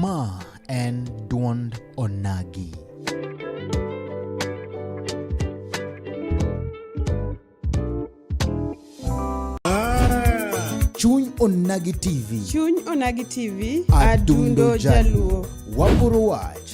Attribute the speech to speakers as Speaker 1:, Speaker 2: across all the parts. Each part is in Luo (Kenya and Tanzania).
Speaker 1: Ma en dwond onagi. Chuny Onagi TV. Chuny Onagi TV, Adundo Adundo Jaluo. Jaluo. Waporo wach.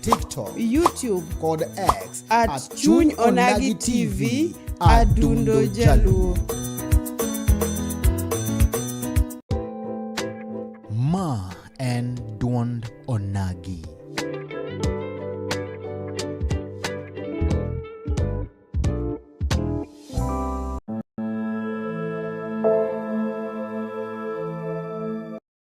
Speaker 1: TikTok, YouTube kod X at, at Chuny Onagi TV Adundo Jaluo. Ma en duond Onagi.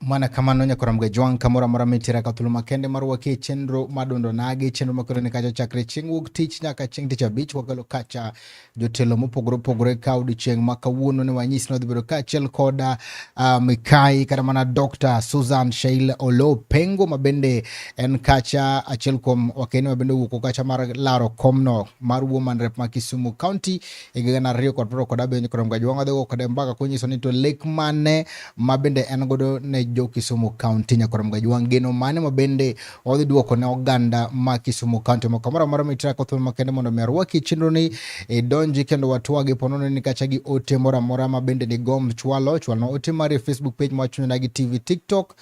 Speaker 1: mwana kamano nyakora mga jwang kamoro amora mitira ka thuolo makende mar wakie chenro madondo nagi chenro makoro ni kacha chakre chieng' wuok tich nyaka chieng' tich abich wakelo kacha jotelo mopogore opogore ka odiochieng' ma kawuono ne wanyis ni wadhi bedo kaachiel kod uh, ah, mikai kata mana Dr. Susan Sheil Olo Pengo ma bende en kacha achiel kuom wakeni ma bende owuok kacha mar laro komno mar Woman Rep ma Kisumu County e higa gana ariyo kod piero kod abiriyo kod mgaji wang'adhi go kode mbaka konyiso ni to lek mane ma bende en godo ne jo Kisumu County nyakod mgaji wang' geno mane ma bende wadhi duoko ne oganda ma Kisumu County moko moro amora mitira kothuon makende mondo mi arwaki chenro ni idonji kendo watwagi ponone ni kacha gi ote moro amora ma bende ni gomb chwalo chwalno ote mari Facebook page ma chunyona gi TV TikTok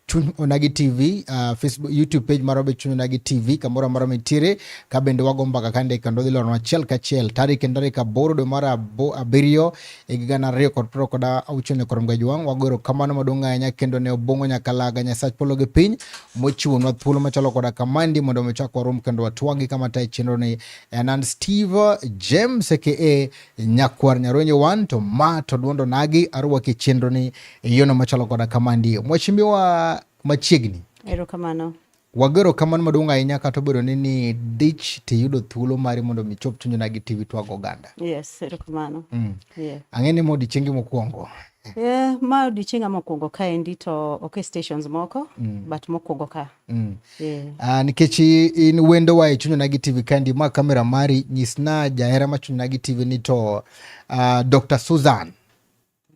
Speaker 1: chuny onagi tv uh, facebook youtube page marwa be chuny onagi tv kamoro amora mitiere ka bende wago mbaka kande kendo dhi loronwa achiel kachiel tarik en tarik aboro dwe mar abiriyo e higa gana ariyo kod piero kod auchiel ni koro mgaji wang wago erokamano maduong' ahinya kendo ne obong'o nyaka laga nyasach polo gi piny mochiwonwa thuolo machalo koda kamandi mondo mi chak warom kendo watwagi kama tayo chenro ni en an steve james aka nyakwar nyaronye wan to ma to dwondo nagi arwaki chenro ni e yono machalo koda kamandi mwachimbiwa machiegni erokamano Wagero kamano maduong' ahinya kata obedo ni ni dich tiyudo thuolo mari mondo mi chop chunyona gi TV twag oganda. Yes, erokamano. Mm. Yeah. Ang'e ni ma odiechiengi mokwongo. Yeah, ma odiechienga mokwongo ka endi to ok e stations moko mm. but mokwongo ka. Mm. Yeah. Uh, nikech in wendo wa e chunyona gi TV ka endi ma kamera mari nyisna jahera ma chunyona gi TV ni to uh, ah, Dr. Susan.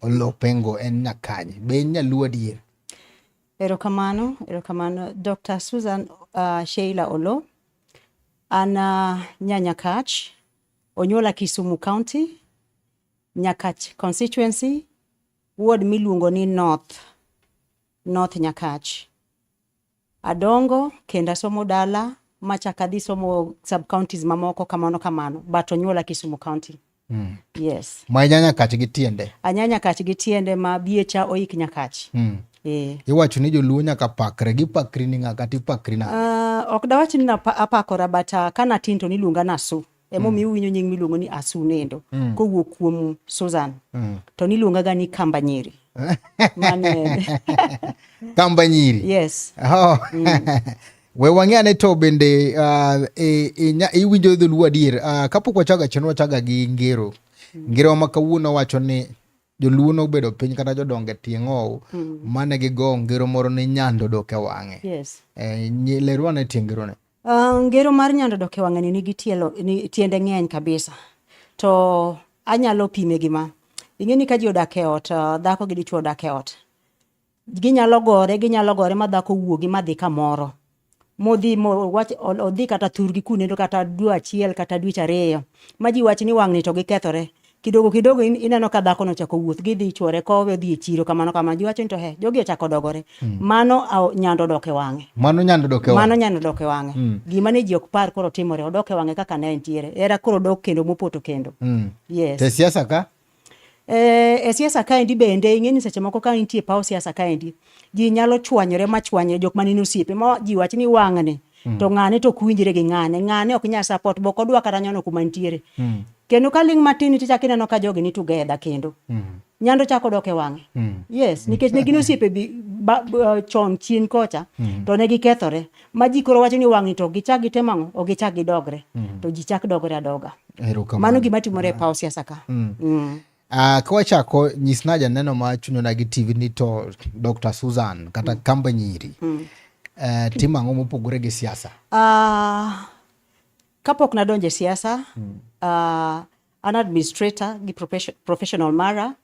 Speaker 1: Olopengo en nyakanye. Be in nyaluo adier? Erokamano, erokamano. Dr. Susan uh, Sheila Olo, an uh, nyanyakach, onyuola Kisumu County, Nyakach constituency, ward miluongo ni North, North Nyakach. Adongo kendo asomo dala machak adhi somo sub counties mamoko kamano kamano but onyuola Kisumu County. Mm. Yes. Ma inyanya kach gi tiende. Anyanya kach gi tiende ma biecha oik nyakach. Mm. Eh. Iwacho ni joluo nyaka pakre gi pakri ni ng'aka ti pakri na. Uh, ok dawach ni apakora but uh, ah, kana tin to niluonga nasu. emomiyo uwinjo nying miluongo ni Asunendo mm. kowuok kuom Susan mm. to niluongaga ni Kamba Nyiri Kamba Nyiri yes oh. mm. we wang'e ane to bende uh, e, e, iwinjo dholuo adier uh, kapok wachaga chien wachaga gi ngero mm. ngerowa ma kawuono wacho ni joluo nobedo piny kata jodonge tieng' ow mm. mane gigo ngero moro ni nyando dok e wang'e yes. e, lerwane tieng' ngerone Uh, ngero mar nyando dok e wang'ani nigi tielo ni, tiende ng'eny kabisa to anyalo pime gima ing'e ni ka ji odak e ot uh, dhako gi dichwo odak e ot ginyalo gore ginyalo gore ma dhako wuogi ma dhi kamoro modhi mowach odhi kata thurgi kunendo kata dwe achiel kata dweche ariyo ma ji wach ni wang'ni to gikethore Kidogo kidogo in, ineno ka dhako no chako wuoth gidhi chwore kowe odhi e chiro kamano kamano jiwacho ni to he jogi ochako dogore mm. mano aw, nyando dok e wang'e mano nyando dok e wang'e mano nyando dok e wang'e mm. gima ne ji ok par koro timore odok e wang'e kaka ne entiere era koro dok kendo mopoto kendo mm. yes te siasa ka eh, e siasa kaendi bende ing'e ni seche moko ka intie paw siasa kaendi ji nyalo chwanyore ma chwanyre jok manene osiepe ma ji wach ni wang'ne mm. to ng'ane to ok winjre gi ng'ane ng'ane ok nya support bok odwa kata nyono kuma nitiere mm. kendo ka ling' matin nitie chak ineno ka jogi ni together kendo mm. nyando chako dok e wang'e mm. yes mm. nikech ne gin osiepe bi, ba, uh, chon chien kocha mm. to ne gikethore ma ji koro wacho ni wang'ni to gichak gitemo ang'o ok gichak gidogre mm. to ji chak dogre adoga mano gima timore e paw siasa ka mm. Mm. Uh, ka wachako nyisna janeno ma chunyona gi tv ni to dr susan kata mm. kamba nyiri mm. uh, timo ang'o mopogore gi siasa uh, kapok nadonjo e siasa mm. uh, an administrator gi professional mara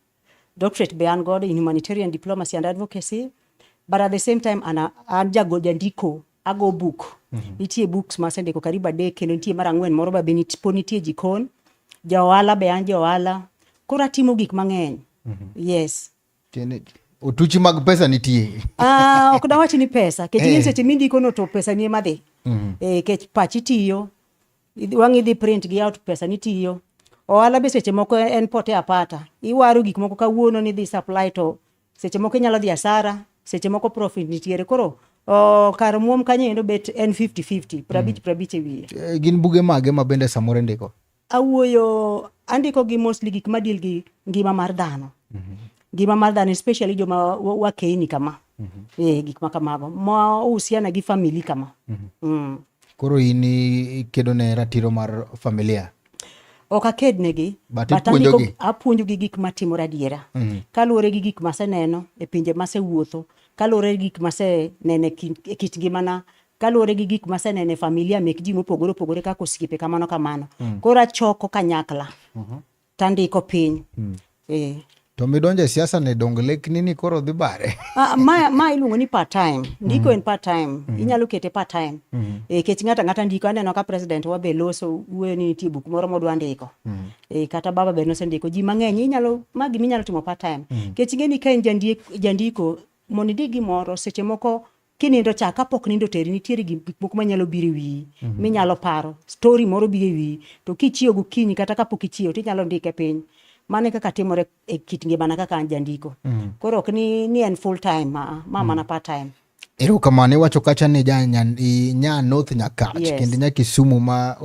Speaker 1: doctorate be an godo in humanitarian diplomacy and advocacy but at the same time an, an jagol jandiko ago buk mm -hmm. nitie books ma asendiko karibu adek kendo nitie mar ang'wen moro ba pod nitie jikon ja ohala be an ja ohala koro atimo gik mang'eny mm -hmm. yes Tiene, otuchi mag pesa nitie ah, ok dawach ni pesa kech hey. Eh. seche mindikono to pesa nie madhi mm -hmm. e, eh, kech pachi tiyo wang' idhi print gi out pesa nitiyo ohala be seche moko en pote apata iwaro gik moko kawuono ni dhi supply to Seche moko inyalo dhi asara, seche moko profit nitiere. Koro oh, kar muom kanyo endo bet en 50-50, prabich prabich e wiye. Eh, Gin buge mage ma bende samoro indiko? Awuoyo, andiko gi mostly gik ma deal gi ngima mar dhano. Ngima mar dhano especially joma wa- wakeyni kama. Eh, gik ma kamago. Ma uhusiana gi family kama. Mm. Koro in i- ikedo ne ratiro mar familia. ok akednegi apuonjogi gik matimore adiera mm -hmm. kaluwore gi gik maseneno e pinje masewuotho kaluwore gi gik maseneno e kit ngimana kaluwore gi gik maseneno e familia mek ji mopogore opogore kaka osiepe kamano kamano mm. koro achoko kanyakla mm -hmm. tandiko piny mm. Eh. To midonjo e siasa ni donge lekni ni koro dhi bare? Ah, ma ma iluongo ni part time. Ndiko mm. en part time. Mm -hmm. Inyalo kete part time. Mm -hmm. E eh, kech ng'ata ng'ata ndiko aneno ka president wa be loso wuoyo ni nitie buk moro modwa ndiko. Mm -hmm. E eh, kata baba be nosendiko ji mang'eny inyalo ma gima inyalo timo part time. Mm -hmm. Kech ng'eni ka en jandiko jandiko mondo indik gimoro seche moko kinindo cha kapok nindo teri nitiere gik moko manyalo biro e wiyi mm -hmm. minyalo paro stori moro biro e wiyi to kichiewo gokinyi kata kapok ichiewo tinyalo ndike piny mano e kaka timore e kit ngimana kaka an jandiko mm -hmm. koro ok ni, ni en full time ma, ma mm -hmm. mana part time Ero kamano iwacho kacha ni ja nya North Nyakach yes. kendo nya Kisumu ma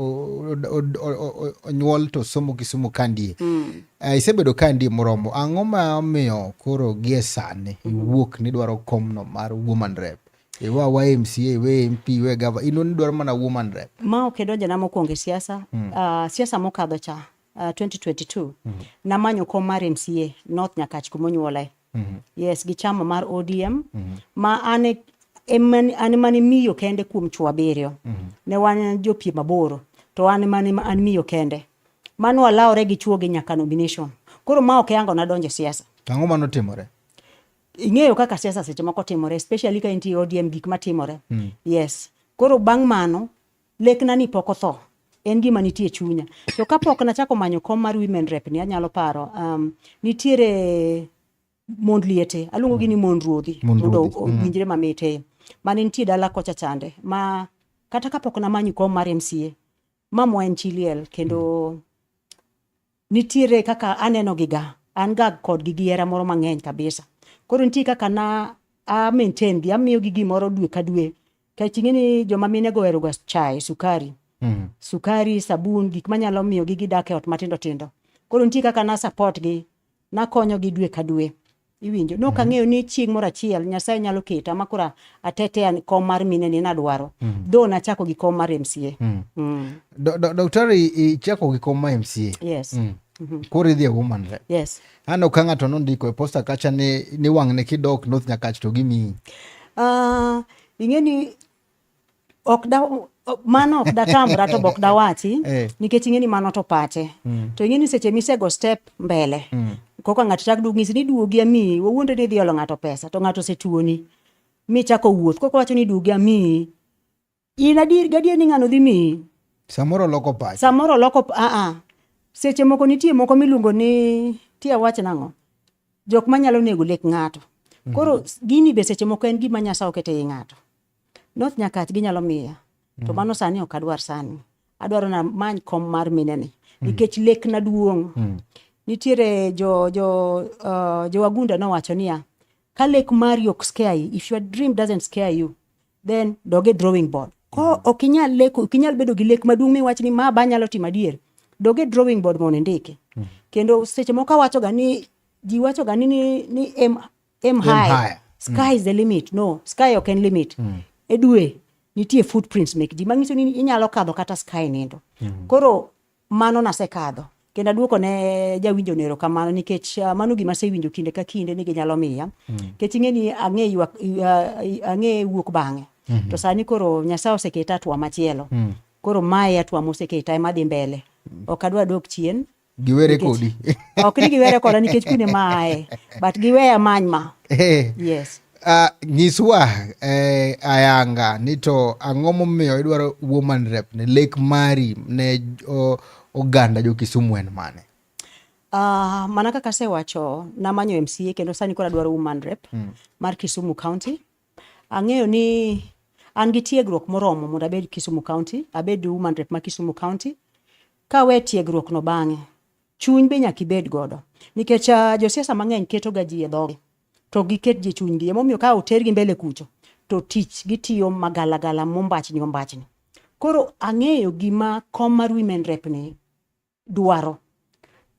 Speaker 1: onyuol to somo Kisumu kandie. Mm. Uh, isebedo ka ndi moromo ang'o ma omiyo koro gie sani iwuok ni dwaro komno mar woman rep iwa wa mca iwe mp iwe gava ino ni dwaro mana woman rep ma ok idonjona mokwongo e siasa mm. uh, siasa mokadho cha uh, 2022 mm. namanyo kom mar mca north nyakach kumonyuolae mm -hmm. yes gi chama mar odm mm -hmm. ma an e an mane miyo kende kuom chwo abiriyo mm -hmm. ne wan jopiem aboro to an mane an miyo kende Mano walawore gi chuo gi nyaka nomination. Koro ma ok yango nadonje siasa. Tango mano timore. Ing'eyo kaka siasa seche moko timore especially ka intie ODM gik ma timore. Mm. Yes. Koro bang' mano lekna ni pok otho. En gima nitie chunya. To ka pok nachako manyo kom mar women rep ni anyalo paro um, nitiere mond liete aluongo gi ni mond ruodhi mondo mm. owinjre mm. mamit e mane nitie dala kocha chande ma kata kapok namanyo kom mar MCA Mamwa en chi liel kendo mm. nitiere kaka aneno gi ga an ga kod gi giera moro mang'eny kabisa. Koro nitie kaka na a maintain gi amiyo gi gimoro dwe ka dwe. Kech ing'e ni joma mine go ga chai, sukari. Mm. Sukari, sabun, gik manyalo miyo gi gidak e ot matindo tindo. Koro nitie kaka na support gi nakonyogi dwe ka dwe iwinjo no ka mhm. ng'eyo ni chieng' moro achiel nyasaye nyalo keta ma kora atetea kom mar mine ni nadwaro mm. dho nachako gi kom mar mca mm. mm. daktari ichako gi kom mar mca yes mm. Mm-hmm. koro idhi e woman rep yes aneno ka ng'ato nondiko e posta kacha ni, ni wang'ne kidok north nyakach to gimiyi uh, ing'e ni ok da mano ok datamra to bok dawachi eh. nikech ing'e ni mano to pache mm. to ing'e ni seche misego step mbele mm. koka ng'ato chak duog ng'isi ni duogi amiyi wawuonde ni idhi olo ng'ato pesa to ng'ato osetuoni michako wuoth koka wacho ni duogi amiyi in adier gadier ni ng'ano dhi miyi samoro loko pache samoro loko aa seche moko nitie moko miluongo ni tie wach nang'o jok manyalo nego lek ng'ato mm. koro gini be seche moko en gima nyasaye okete i ng'ato North Nyakach ginyalo miya. To mm. mano sani ok adwar sani. Adwaro na many kom mar mine ni. Mm. Nikech lek na duong'. Mm. Nitiere jo, jo, uh, jo wagunda nowacho niya, ka lek mari ok scare you, if your dream doesn't scare you, then doge drawing board. Ko ok inyal leko, ok inyal bedo gi lek maduong' miwach ni ma ba nyalo timo adier. Doge drawing board mondo indike. Kendo seche moko awachoga ni ji wachoga ni, ni, ni em aim high sky is the limit no sky ok en limit mm. e dwe nitie footprints mek ji manyiso ni inyalo kadho kata sky nindo mm. koro mano nasekadho kendo aduoko ne jawinjo nero kamano nikech uh, mano gima asewinjo kinde ka kinde ni ginyalo miya mm. nikech ing'e ni ang'e ywak uh, ang'e wuok bang'e mm -hmm. to sani koro nyasaye oseketa atwa machielo mm. koro mae atwa moseketa ema dhi mbele mm. ok adwa dok chien giwere kodi ok ni giwere koda nikech kuine maaye but giweya many ma eh. yes Uh, nyiswa eh, ayanga ni to ang'o momiyo idwaro woman rep ne lek mari ne oh, oganda jo Kisumu en mane? Uh, mana kaka asewacho namanyo MCA kendo sani koro adwaro woman rep mm. mar Kisumu County. Ang'eyo ni an gi tiegruok moromo mondo abed Kisumu County, abed woman rep ma Kisumu County Ka we tiegruok no bang'e, chuny be nyaka ibed godo. Nikech uh, josiasa mang'eny keto ga ji e dhogi, to giket ji chunygi. Emomiyo ka otergi mbele kucho, to tich gitiyo magalagala mombachni ombachni. Koro ang'eyo gima kom mar women rep ni dwaro.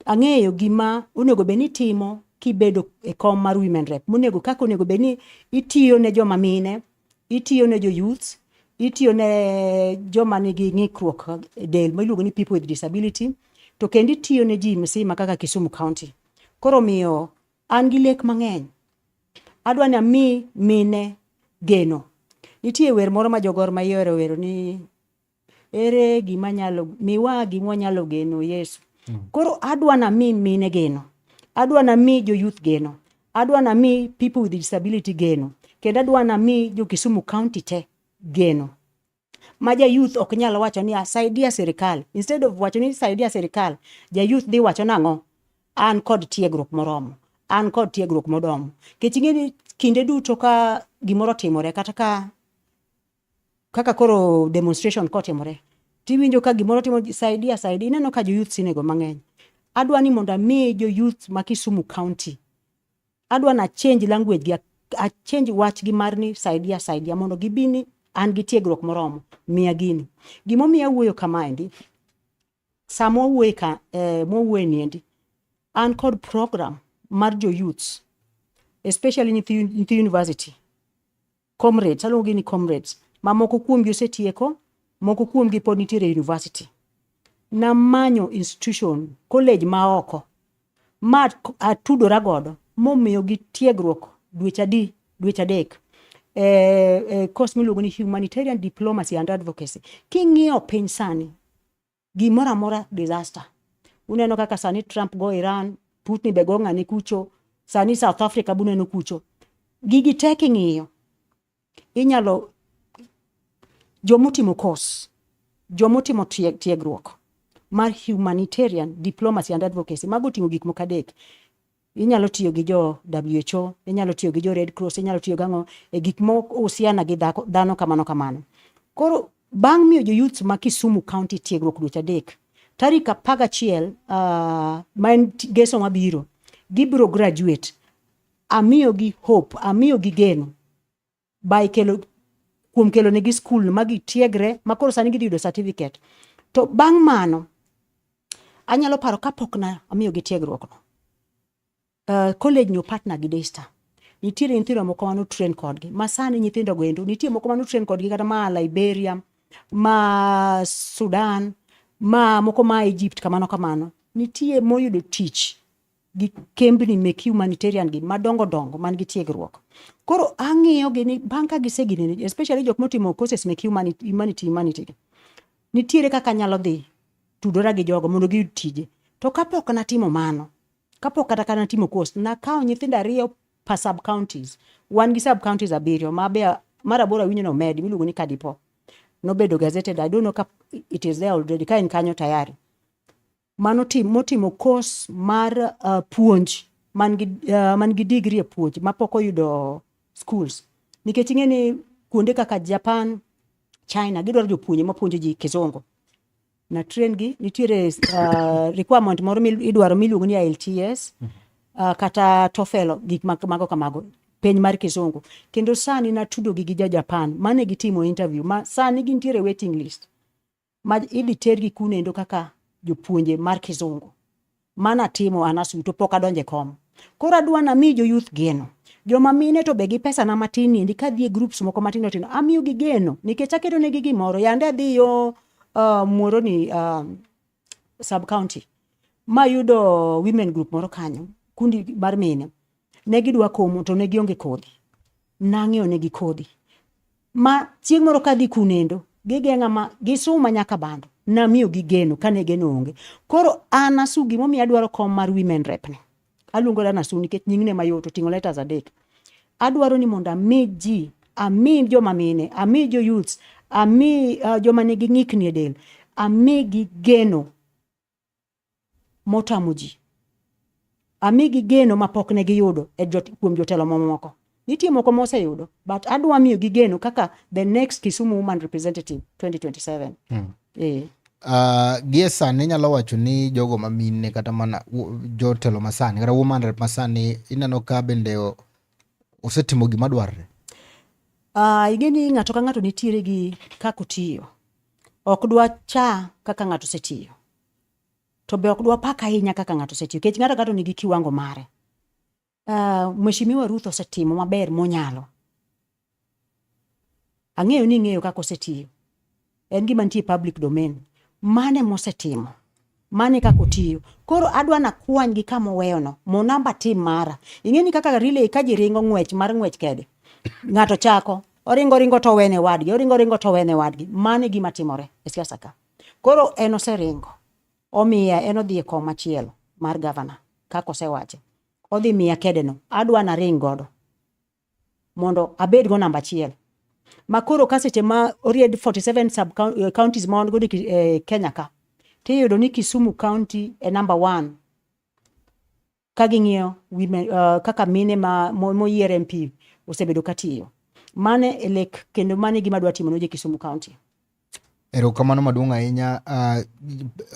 Speaker 1: Ang'eyo gima onego bed ni timo kibedo e kom mar women rep. Monego kaka onego bed ni itiyo ne joma mine, itiyo ne jo-youths itiyo ne joma nigi ng'ikruok e del ma iluongo ni people with disability to kendo itiyo ne ji msima kaka Kisumu County. Koro omiyo an gi lek mang'eny. Adwa ni ami mine geno. Nitie wer moro ma jo Gor Mahia ohero wero ni Ere gima nyalo miwa gima wanyalo geno Yesu. Hmm. Koro adwa na mi mine geno. Adwa na mi jo youth geno. Adwa na mi people with disability geno. Kendo adwa na mi jo Kisumu County te geno. Ma ja youth ok nyal wacho ni asaidia ah, sirikal. Instead of wacho ni saidia sirikal, ja youth dhi wacho nang'o? An kod tiegruok moromo. An kod tiegruok modomo. Kech ing'e ni kinde duto ka gimoro timore kata ka kaka koro demonstration kotimore tiwinjo ka gimoro timo saidia saidi ineno ka joyouth sinego mang'eny adwa ni mondo ami joyouth ma kisumu county adwa na change language gi achange wachgi mar ni saidia saidia mondo gibi ni an gi tiegruok moromo miya gini gimomiyo awuoyo kamaendi Sama wawuoye ka eh, mwawuoye niendi, an kod program mar jo youths especially nyithi nyithi university comrades aluongogi ni comrades ma moko kuomgi osetieko moko kuomgi pod nitiere e university namanyo institution college ma oko ma k- atudora godo momiyogi tiegruok dweche adi dweche adek e, e course miluongo ni humanitarian diplomacy and advocacy king'iyo piny sani gimoro amora disaster. Uneno kaka sani Trump go Iran, Putin be go ng'ani kucho, sani South Africa buneno kucho. Gigi te king'iyo, inyalo jomotimo course, jomotimo tieg, tiegruok mar humanitarian diplomacy and advocacy, mago oting'o gik moko adek. Inyalo tiyo gi jo WHO, inyalo tiyo gi jo Red Cross, inyalo tiyo gang'o e gik ma husiana gi dhano kamano kamano. Koro bang' miyo joyouth ma Kisumu County tiegruok dweche adek, tarik apar gachiel uh, ma en geso mabiro, gibiro graduate. Amiyogi hope, amiyogi geno by kelo kuom kelo negi skul ma gitiegre ma koro sani gidhi yudo certificate to bang' mano anyalo paro kapok na amiyo gi tiegruokno uh, college no partner gi Daystar nitiere nyithindo moko mano train kodgi ma sani nyithindo go endo nitie moko mano train kodgi kata ma Liberia ma Sudan ma moko ma Egypt kamano kamano nitie moyudo tich gi kembni mek humanitarian gi madongo dongo man gi tiegruok. Koro ang'iyo gi ni bang' ka gisegini ni especially jok motimo courses mek humanity humanity humanity gi. Nitiere kaka anyalo dhi tudora gi jogo mondo giyud tije. To kapok natimo mano, kapok kata kana timo course, nakawo nyithindo ariyo per sub counties. Wan gi sub counties abiriyo ma be mar aboro awinjo ni omedi miluongo ni Kadipo. Nobedo gazetted, I don't know ka it is there already, ka en kanyo tayari. mano motimo course mar uh, puonj man gi uh, man gi degree e puonj mapok oyudo schools nikech ing'e ni kuonde kaka Japan, China gidwaro jopuonje mapuonjo ji kizungu na train gi nitiere uh, requirement moro midwaro miluongo ni IELTS uh, kata TOEFL gik mago kamago piny mar kizungu kendo sani natudogi gi ja Japan mane gitimo interview ma sani gintiere waiting list ma idhi tergi kunendo kaka jopuonje mar kizungu mana timo an asuto pok adonje kom koro adwa nami jo youth geno joma mine to be gi pesa na matin niendi ka dhie groups moko matindo tindo amiyo gi geno nikech aketo negi gimoro yande adhi yo uh, muoro ni uh, sub county mayudo women group moro kanyo kundi mar mine Ne gidwa komo to ne gionge kodhi. Nang'iewo negi kodhi. Ma chieng' moro kadhi kunendo, gigeng'a ma gisuma nyaka bando. Namiyo gi geno kane geno onge. Koro an asu gimomiyo adwaro kom mar women rep ni. Aluongo dana asu nikech nying'ne mayot oting'o letters adek. Adwaro ni mondo ami ji, ami joma mine, ami jo youths, ami uh, joma nigi ng'ikni e del, amigi geno motamo ji. Amigi geno ma pok ne giyudo e jot, kuom jotelo mamoko. Nitie moko moseyudo, but adwa miyo gi geno kaka the next Kisumu woman representative 2027. Mm. Eh. Uh, gie sani inyalo wacho ni jogo ma mine kata mana jotelo masani kata woman rep masani ineno ka bende osetimo gima dwarre? Uh, ah, ing'e ni ng'ato ka ng'ato nitiere gi kaka otiyo. Ok dwa cha kaka ng'ato osetiyo. To be ok dwa pak ahinya kaka ng'ato osetiyo. Kech ng'ato ng'ato nigi kiwango mare. Uh, Mheshimiwa Ruth osetimo maber monyalo. Ang'eyo ni ing'eyo kaka osetiyo. En gima nitie public domain. Mane mosetimo? mane kaka otiyo koro adwa na kwany gi kama oweyo no mo namba tim mara ing'e ni kaka relay ka ji ringo ng'wech mar ng'wech kede ng'ato chako oringo ringo to wene wadgi oringo ringo to wene wadgi mane gima timore e siasa ka koro en oseringo omiya en odhi e kom machielo mar gavana kaka osewache odhi miya kede no adwa na ring godo mondo abed go namba achiel makoro ka seche ma oried 47 sub eh, counties ma wan godo e eh, Kenya ka tiyudo ni Kisumu county e number one ka ging'iyo women uh, kaka mine ma moyier MP osebedo katiyo mane e lek kendo mane gima dwa timo ne jo Kisumu county Erokamano maduong' ahinya. Ah,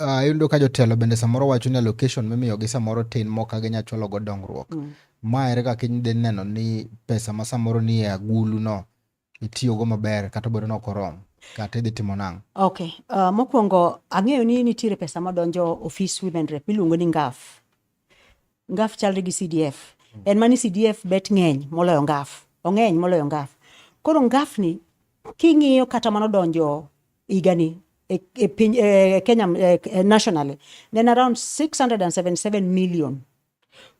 Speaker 1: ah, ayudo ka jotelo bende samoro wacho ni allocation mimiyogi samoro tin mok ka ginya chwalo go dongruok. Mm. Ma ere kaka idhi neno ni pesa ma samoro ni e agulu no itiyogo maber kata obedo ni ok oromo kata idhi timo nang'o? Ok, ah, mokwongo ang'eyo ni nitiere pesa madonjo ofis Women Rep miluongo ni NGAF. ngaf chalre gi CDF mm. en mani CDF bet ng'eny moloyo ngaf ong'eny moloyo ngaf koro ngaf ni king'iyo kata mano donjo higani e, e, piny, e, e Kenya e, e nationally nen around 677 million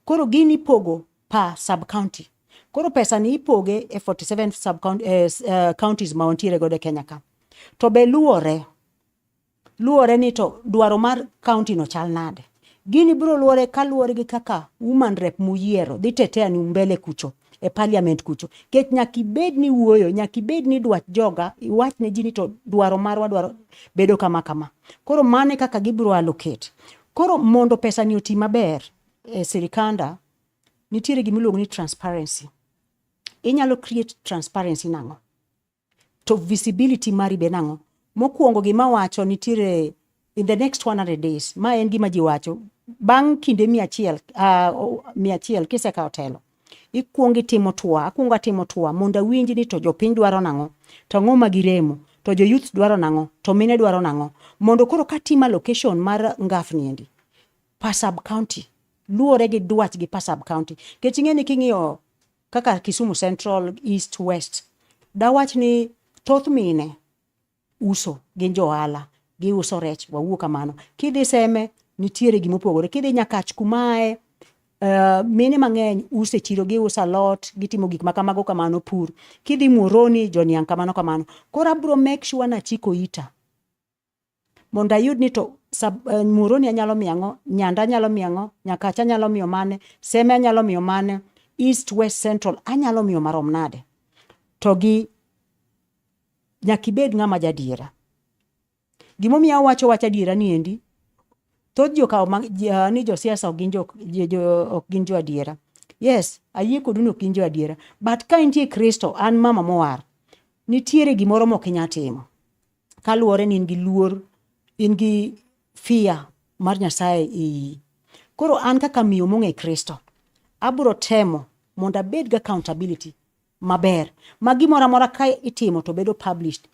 Speaker 1: koro gini pogo pa sub county koro pesa ni ipoge e 47 sub county, eh, uh, counties ma wantiere godo e Kenya ka to be luwore luwore ni to dwaro mar kaunti no chal nade. Gini biro luwore kaluwore gi kaka woman rep muyiero dhi tetea ni umbele kucho e parliament kucho kech nyaka ibed ni wuoyo nyaka ibed ni dwach joga iwach ne ji ni to dwaro marwa dwaro bedo kama kama koro mano e kaka gibiro allocate koro mondo pesa ni oti maber e sirikanda nitiere gima iluongo ni transparency inyalo create transparency nang'o To visibility mari be nang'o? Mokwongo gima wacho nitiere in the next 100 days, ma en gima ji wacho bang' kinde mia achiel uh, mia achiel kisekawo telo ikwong itimo tua akwongo atimo tua mondo awinj ni to jopiny dwaro nang'o to ang'o ma giremo to jo youth dwaro nang'o to mine dwaro nang'o mondo koro katima location mar ngafni endi pasab county luwore gi dwach gi pasab county kech ing'e ni king'iyo kaka Kisumu Central, East, West, dawach ni thoth mine uso gin johala, giuso rech, wawuo kamano. Kidhi Seme nitiere gima opogore, kidhi Nyakach kumae Uh, mine mang'eny use chiro giuso alot gitimo gik ma kamago kamano pur kidhi muoroni joniang' kamano kamano koro abro make sure nachiko ita mondo ayud ni to eh, muroni anyalo miyo ang'o nyanda anyalo miyo ang'o nyakacha anyalo miyo mane seme anyalo miyo mane east west central anyalo miyo marom nade to gi nyaka ibed ng'ama jadiera gimomiyo awacho wach adiera ni endi thoth jokawo ah, ni josiasa ok gin jo adiera yes ayie kodu ni ok gin jo adiera but ka intie kristo an mama mowar nitiere gimoro mok inya timo kaluwore ni in gi luor in gi fear mar nyasaye iyi koro an kaka miyo mong'e kristo abro temo mondo abed gi accountability maber ma gimoro amora ka itimo to bedo published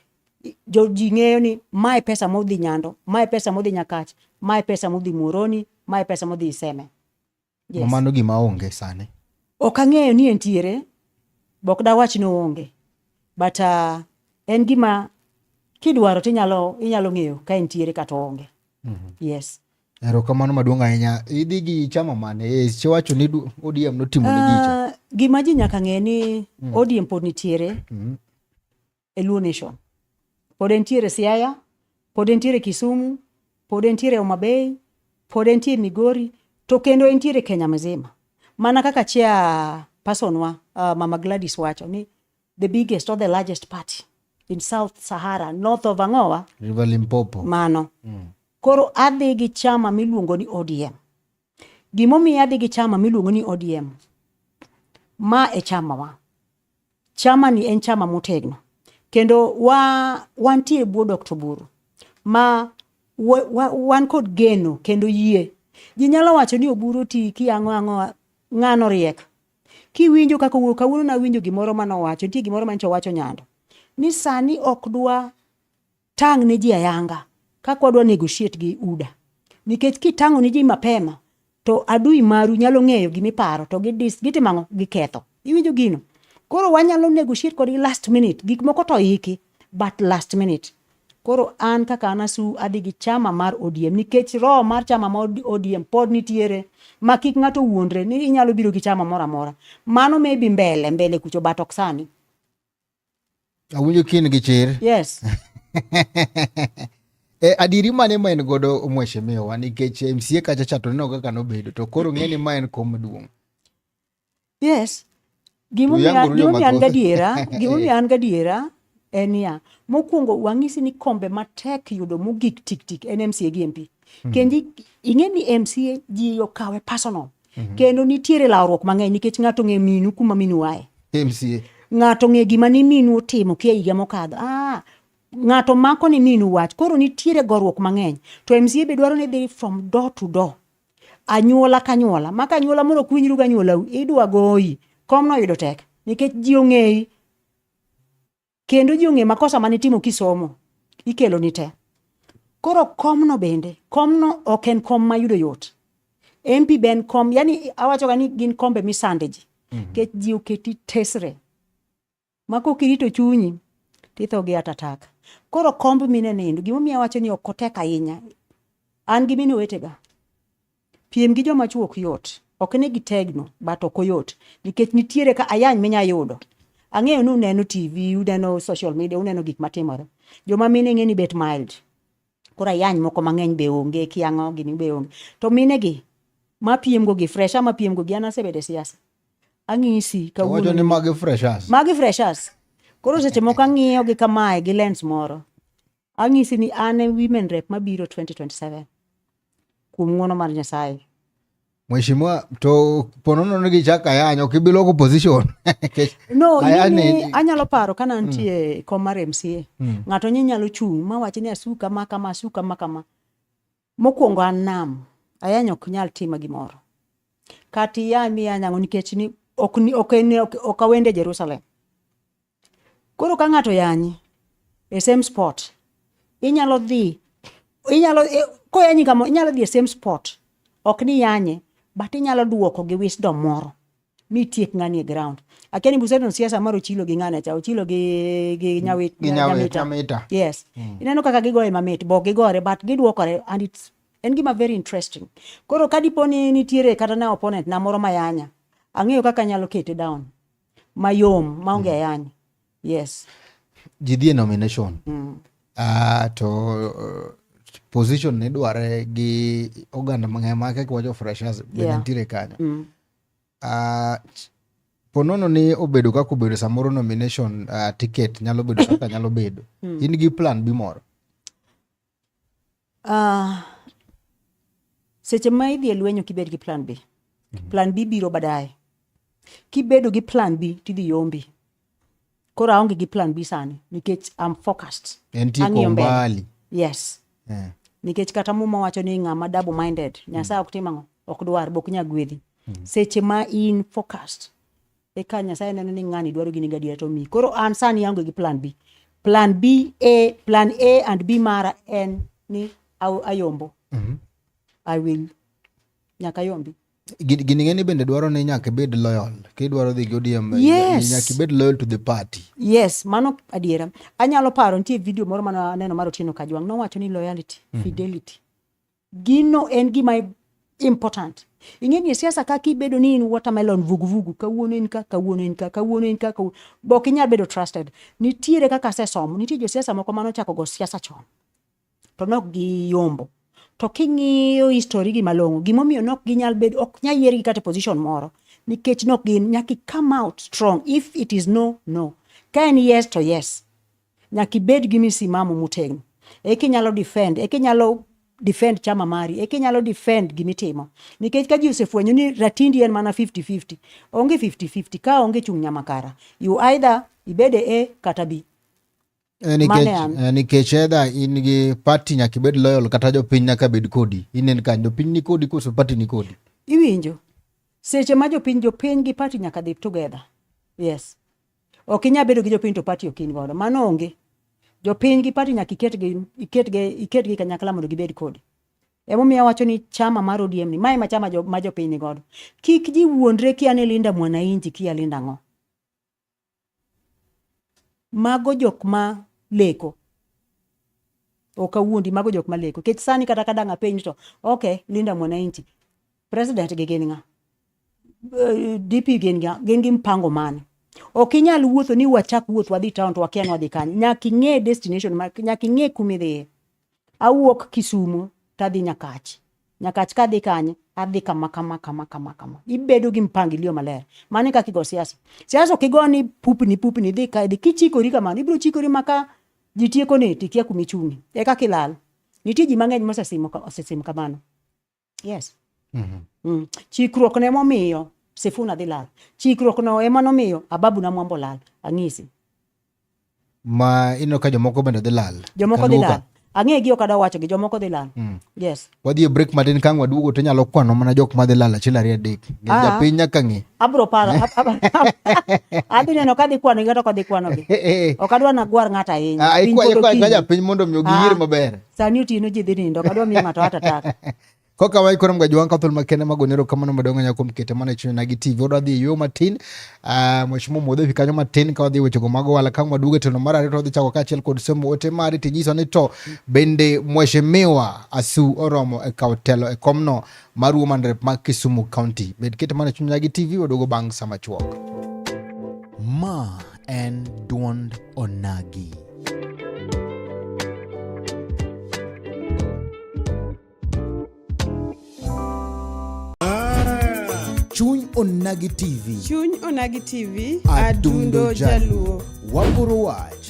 Speaker 1: jo ji ng'eyo ni mae pesa modhi nyando mae pesa modhi nyakach mae pesa modhi muoroni mae pesa modhi iseme yes. mano gima onge sani ok ang'eyo ni entiere bok dawach ni onge but uh, en gima kidwaro to inyalo inyalo ng'eyo ka entiere kata onge mm -hmm. yes erokamano maduong' ahinya idhi gi chama mane e, siwacho ni odm notimo ni gicha uh, gima ji nyaka ng'e ni mm. odm pod nitiere mm -hmm. e Luo Nation. Pod entiere Siaya, pod entiere Kisumu, pod entiere Homa Bay, pod entiere Migori, to kendo entiere Kenya mzima. Mana kaka chair person wa, uh, Mama Gladys wacho ni the biggest or the largest party in South Sahara, north of Angoa, River Limpopo. Mano. Mm. Koro adhi gi chama miluongo ni ODM. Gimomiyo adhi gi chama miluongo ni ODM, ma e chamawa. Chamani en chama motegno kendo wa, wantie bwo Dr. Buru ma wa, wa, wan kod geno kendo yie. Ji nyalo wacho ni Oburu ti kiang'o ang'o ng'ano riek. Kiwinjo kaka owuoyo kawuono nawinjo gimoro mane owacho, nitie gimoro manyicha owacho nyando ni sani ok dwa tang' ne ji ayanga kaka wadwa negotiate gi UDA. Nikech kitang'o ne ji mapema to adui maru nyalo ng'eyo gima iparo to gidis gitimo ang'o giketho. Iwinjo gino? Koro wanyalo negotiate kodgi last minute gik moko to iki but last minute. Koro an kaka an asu adhi gi chama mar ODM nikech roho mar chama mar ODM pod nitiere ma kik ng'ato wuondre ni inyalo biro gi chama moro amora. Mano maybe mbele mbele kucho but ok sani. Awinjo kin gi chir. Yes. E, adiri mane ma en godo mheshimiwa nikech MCA kacha cha to neno kaka nobedo to koro ng'eni ma en kom duong'. Yes. Gimomiyo an gadiera, gimomiyo an gadiera en ya. Mokwongo wang'isi ni kombe matek yudo mogik tik tik en MCA gi MP. Hmm. Kendi ing'e ni MCA ji okawe personal. mm -hmm. kendo nitiere lawruok mang'eny nikech ng'ato ng'e minu kuma minu waye MCA. ng'ato ng'e gima ni minu otimo kia higa mokadho ah, ng'ato mako ni minu wach koro nitiere goruok mang'eny to MCA be dwaro ni dhi from door to door anyuola ka anyuola maka anyuola mondo kuwinjru ga anyuolau idwa goyi kom no yudo tek nikech ji ong'eyi kendo ji ong'e makosa mane itimo kisomo ikelo ni te koro komno bende komno ok en kom mayudo yot MP ben kom yani awacho ga ni gin kombe misande ji mm -hmm. kech ji oketi tesre ma kokirito chunyi titho gi atatak koro komb mine nindo gimomiyo awacho ni ok otek ahinya an gi mine wetega Piem gi joma chwo ok yot. Ok ni gitegno, but ok oyot. Nikech nitiere ka ayany minya yudo. Ang'eyo ni uneno TV, uneno social media, uneno gik matimore. Joma mine ng'e ni bet mild. Koro ayany moko mang'eny be onge, kiang'o gini be onge. To mine gi, ma piem go gi, fresha ma piem go gi, an asebede siasa. Ang'isi To wacho kawuono. ni magi freshers. Magi freshers. Koro seche moko ang'iyo gi kamae gi lens moro. Ang'isi ni an e women rep mabiro 2027 kuom ng'uono mar Nyasaye. Mheshimiwa, to ponono ni gichak ayany ok ibi loko position no ni anyalo paro ka nantie mm. kom mar MCA mm. ng'ato nyi nyalo chung' ma wachi ni asuka ma kama asuka ma kama Mokwongo an nam, ayany ok nyal tima gimoro. Kata iyany mi iyany ang'o nikech ni ok ni ok en ok, ok awende Jerusalem. Koro ka ng'ato yanyi e same spot, inyalo dhi inyalo e, koyanyi kama inyalo dhi e same spot. Ok ni yanye, but inyalo duoko gi wisdom moro mi tiek ng'ani e ground akia ni buseton siasa moro chilo gi ng'ane cha ochilo gi gi mm. nyawit gi nyawit amita yes mm. ineno kaka gigoye mamit bok gigore but gidwokore and it's en gima very interesting koro ka dipo ni nitiere kata na opponent na moro mayanya ang'eyo kaka nyalo kete down mayom maonge mm. ayanya yes ji dhi e nomination mm. uh, to uh, position ne dware gi oganda mang'eny ma kaka wacho freshers yeah. bende nitiere kanyo mm Uh, ponono ni obedo kaka obedo samoro nomination uh, ticket nyalo bedo kaka nyalo bedo hmm. in gi plan bi moro uh, seche ma idhi e lwenyo kibed gi plan b mm -hmm. plan b biro badaye kibedo gi plan b tidhi yombi koro aonge gi plan bi sani nikech am focused ang'iyo mbele yes yeah. nikech kata muma wacho ni ng'ama double minded nyasaye ok tim ang'o ok dwar bok nya gwedhi mm. seche ma in focused eka nyasaye neno ni ng'ani dwaro gini gadiera to mi koro an sani aonge gi plan b plan b a plan a and b mara en ni ayombo mm -hmm. i will nyaka yombi gini ng'eni bende dwaro ni nyaka ibed loyal kidwaro dhi gi ODM yes. nyaka ibed loyal to the party yes mano adiera anyalo paro nitie video moro mane aneno mar Otieno Kajwang' nowacho ni loyalty mm -hmm. fidelity gino en gima important ing'e ni siasa kaka ibedo ni in watermelon vuguvugu kawuono in ka kawuono in ka kawuono in ka kawuono bok inyal bedo trusted nitiere kaka asesomo nitie josiasa moko mane ochako go siasa chon to nok giyombo to king'iyo history gi malong'o gimomiyo nok ginyal bedo ok nyal yiergi kata e position moro nikech nok gin nyaki come out strong if it is no no ka en yes to yes nyaki bed gi misimamo motegno eki nyalo defend eki nyalo defend chama mari eki nyalo defend gimitimo nikech ka ji osefwenyo ni ratindi en mana 50-50 onge 50-50 ka onge chung' nyamakara you either ibede a kata b Eh, nikech eh, edha in gi party nyaka ibed loyal kata jopiny nyaka bed kodi inen kanyo jopiny ni kodi koso party ni kodi iwinjo seche ma jopiny jopiny gi party nyaka dhi together yes ok inya bedo gi jopiny to party ok in godo mano onge jopiny gi party nyaka iketgi iketgi iketgi kanyakla mondo gibed kodi emomiyo awacho ni chama mar ODM ni mae ma chama jo, ma jopiny ni godo kik ji wuondre kia ni Linda Mwananchi kia Linda ng'o Mago jok ma leko. Ok awuondi, mago jok ma leko. Kech sani kata ka dang' apenj to, okay, Linda Mwananchi, president gi gin ng'a? Eh, DP gin ng'a? Gin gi mpango mane? Ok inyal wuotho ni wachak wuoth wadhi town to wakia ni wadhi kanye. Nyaka ing'e destination, nyaka ing'e kuma idhiye. Awuok Kisumo to adhi Nyakach. Nyakach ka adhi kanye, adhi kama kama kama kama kama. Ibedo gi mpangilio maler. Mano e kaka igo siasa. Siasa ok igo ni pupni pupni idhi ka idhi. Kichikori kamano, ibiro chikori ma ka ji tiekoni to ikia kuma ichung'ie. E kaka ilal. Nitie ji mang'eny mosesim ka- osesim kamano. Yes. Mm -hmm. Mm. Chikruok ne momiyo Sifuna dhi lal. Chikruok no ema nomiyo Ababu na Mwambo lal. Ang'isi. Ma ino ka jomoko bende dhi lal. Jomoko dhi lal. Ang'e gi okada wacho gi jomoko dhi lal. Mm. Yes. Wadhi e break matin kang waduogo to nyalo kwano mana jok ma dhi lal achiel ariyo adek. Ng'e ah. japiny nyaka ng'e. Abro paro. Adhi neno ka dhi kwano gi kata ok dhi kwano gi. Ok adwa nagwar ng'ato ahinya. Ah, ikwa ikwa japiny mondo mi ogiyier ah. maber. sani otieno ji dhi nindo kadwa miyo ng'ato hata taka koka wai koro mgaji wanka thul makende magonero kamano madongo nyako mkete mana chini na gitivi odo adhi yo matin uh, ah, mweshimo mwodhe fi kanyo matin ka wadhi wecho gomago wala kama duge teno mara arito wadhi chako kachiel kod somo ote mari tinyiso ni to bende mweshimiwa asu oromo e kao telo e komno mar Woman Rep ma Kisumu County. Bed kete mana chunya gi TV waduogo bang' sama chuok. Ma en duond onagi. Chuny Onagi TV. Chuny Onagi TV, adundo, adundo jaluo. Wagoro wach.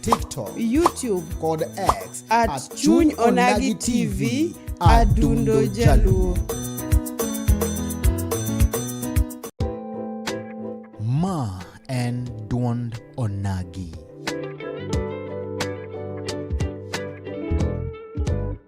Speaker 1: TikTok, YouTube kod X at, at Chuny Onagi TV Adundo Jaluo. Ma en duond Onagi.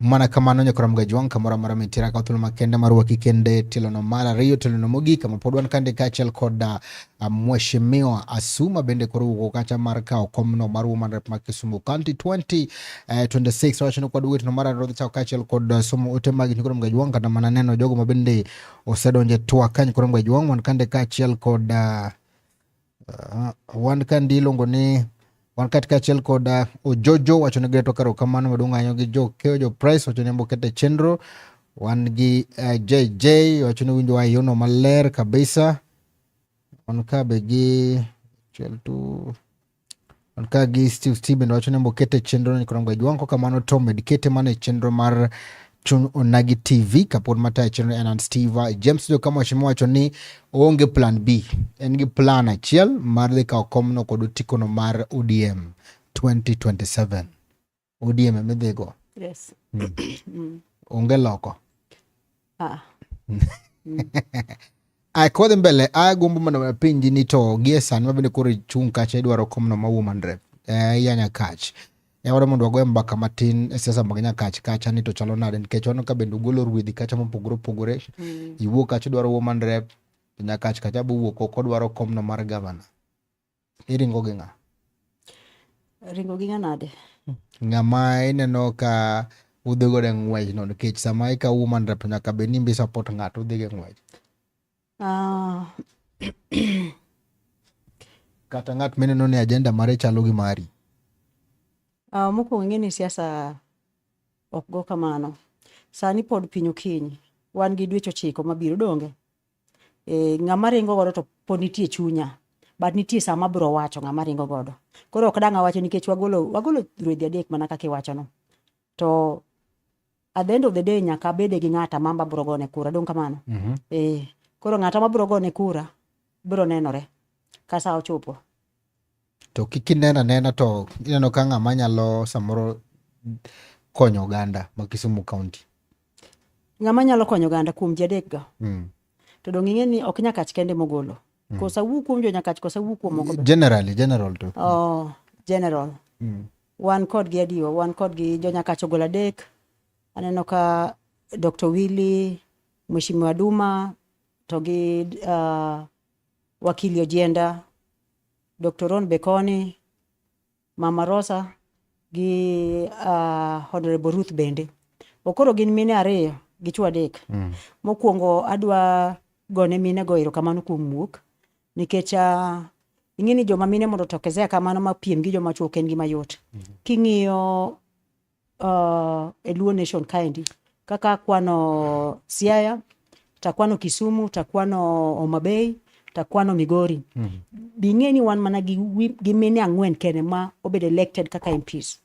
Speaker 1: mana kamano nyaka ram gajwang kamoro amora mitira ka thuolo makende mar waki kende tilono mar ariyo tilono mogik kama pod wan kande kaachiel kod uh, mheshimiwa Asuma bende koro wuok kacha mar kawo komno mar woman rep mar Kisumu County 2026 wacho ni kod wetno mar ariyo chako kaachiel kod uh, somo ote mag nyaka ram gajwang kata mana neno jogo ma bende osedonje twak ka nyaka ram gajwang wan kande kaachiel kod uh, Uh, wan kandi iluongo ni wan katika achiel kod uh, ojojo wacho ni geto karo kamano maduong' ahinya gi jo keyo jo price wacho ni mbokete chenro wan gi uh, jj wacho ni winjo wayono maler kabisa wan kabe gi achiel tu Man ka gi Steve Steven wacho ni mokete chenro ni koro Jwang' ko kamano to med kete mana e chenro mar Chung Onagi TV kapod matayo chenro en an Steve James jo kama wacho wacho ni oonge plan B en gi plan achiel mar dhi kawo komno kod otikono mar ODM 2027. ODM ema idhigo. Yes. Mm. mm. Onge loko. Ah. Ay, kodhi mbele agombo mondo apenji ni to gie sani mabende koro ichung' kacha idwaro komno ma woman rep eh, ya nyakach yawore mondo wagoye mbaka matin e siasa mag nyakach kacha ni to chalo nade nikech wano ka bende ugolo ruedhi kacha mopogore opogore mm. iwuok kacha idwaro woman rep nyakach kacha bowuok oko dwaro komno mar gavana iringo gi ng'a ringo gi nganade ng'ama ineno ka udhi godo e ng'wech no nikech sama ika woman rep nyaka bed ni mbi support ng'ato udhi go e ng'wech ah. kata ng'at mineno ni agenda mare chalo gi mari uh, mokwongo ing'e ni siasa ok go kamano sani pod piny okinyi wan gi dweche ochiko mabiro donge e, ng'ama ringo godo to pod nitie chunya but nitie sama abiro wacho ng'ama ringo godo koro ok dang' awacho nikech wagolo wagolo ruedhi adek mana kaka iwachono to at the end of the day nyaka abede gi ng'ata ma abiro gone kura dong' kamano mm -hmm. e, koro ng'ata ma abiro gone kura biro nenore ka sa ochopo To kik inena nena to ineno ka ng'ama nyalo samoro konyo oganda ma Kisumu County. Ng'ama nyalo konyo oganda kuom jadek ga. Mm. To dong' ing'e ni ok nyakach kende mogolo. Mm. Kosa wuo kuom jo nyakach kosa wuo kuom moko. Generally, general to. Oh, general. Mm. Wan kod gi adiwa, wan kod gi jo nyakach ogolo adek. Aneno ka Dr. Willy, Mheshimiwa Duma, to gi uh, wakili Ojienda Dr. Ron Bekoni, Mama Rosa gi uh, Honorable Ruth bende. Okoro gin mine ariyo gi chwo adek. Mm. Mokwongo adwa gone mine go erokamano kuom wuok nikech uh, ing'e ni joma mine mondo tokezea kamano ma piem gi joma chwo ok en gima yot. Mm. King'iyo uh, e Luo Nation kaendi kaka akwano Siaya, takwano Kisumu, takwano Homa Bay, takwano Migori. Mm -hmm. Bing'e ni wan mana gi, gi mine ang'wen kene ma obed elected kaka MPs.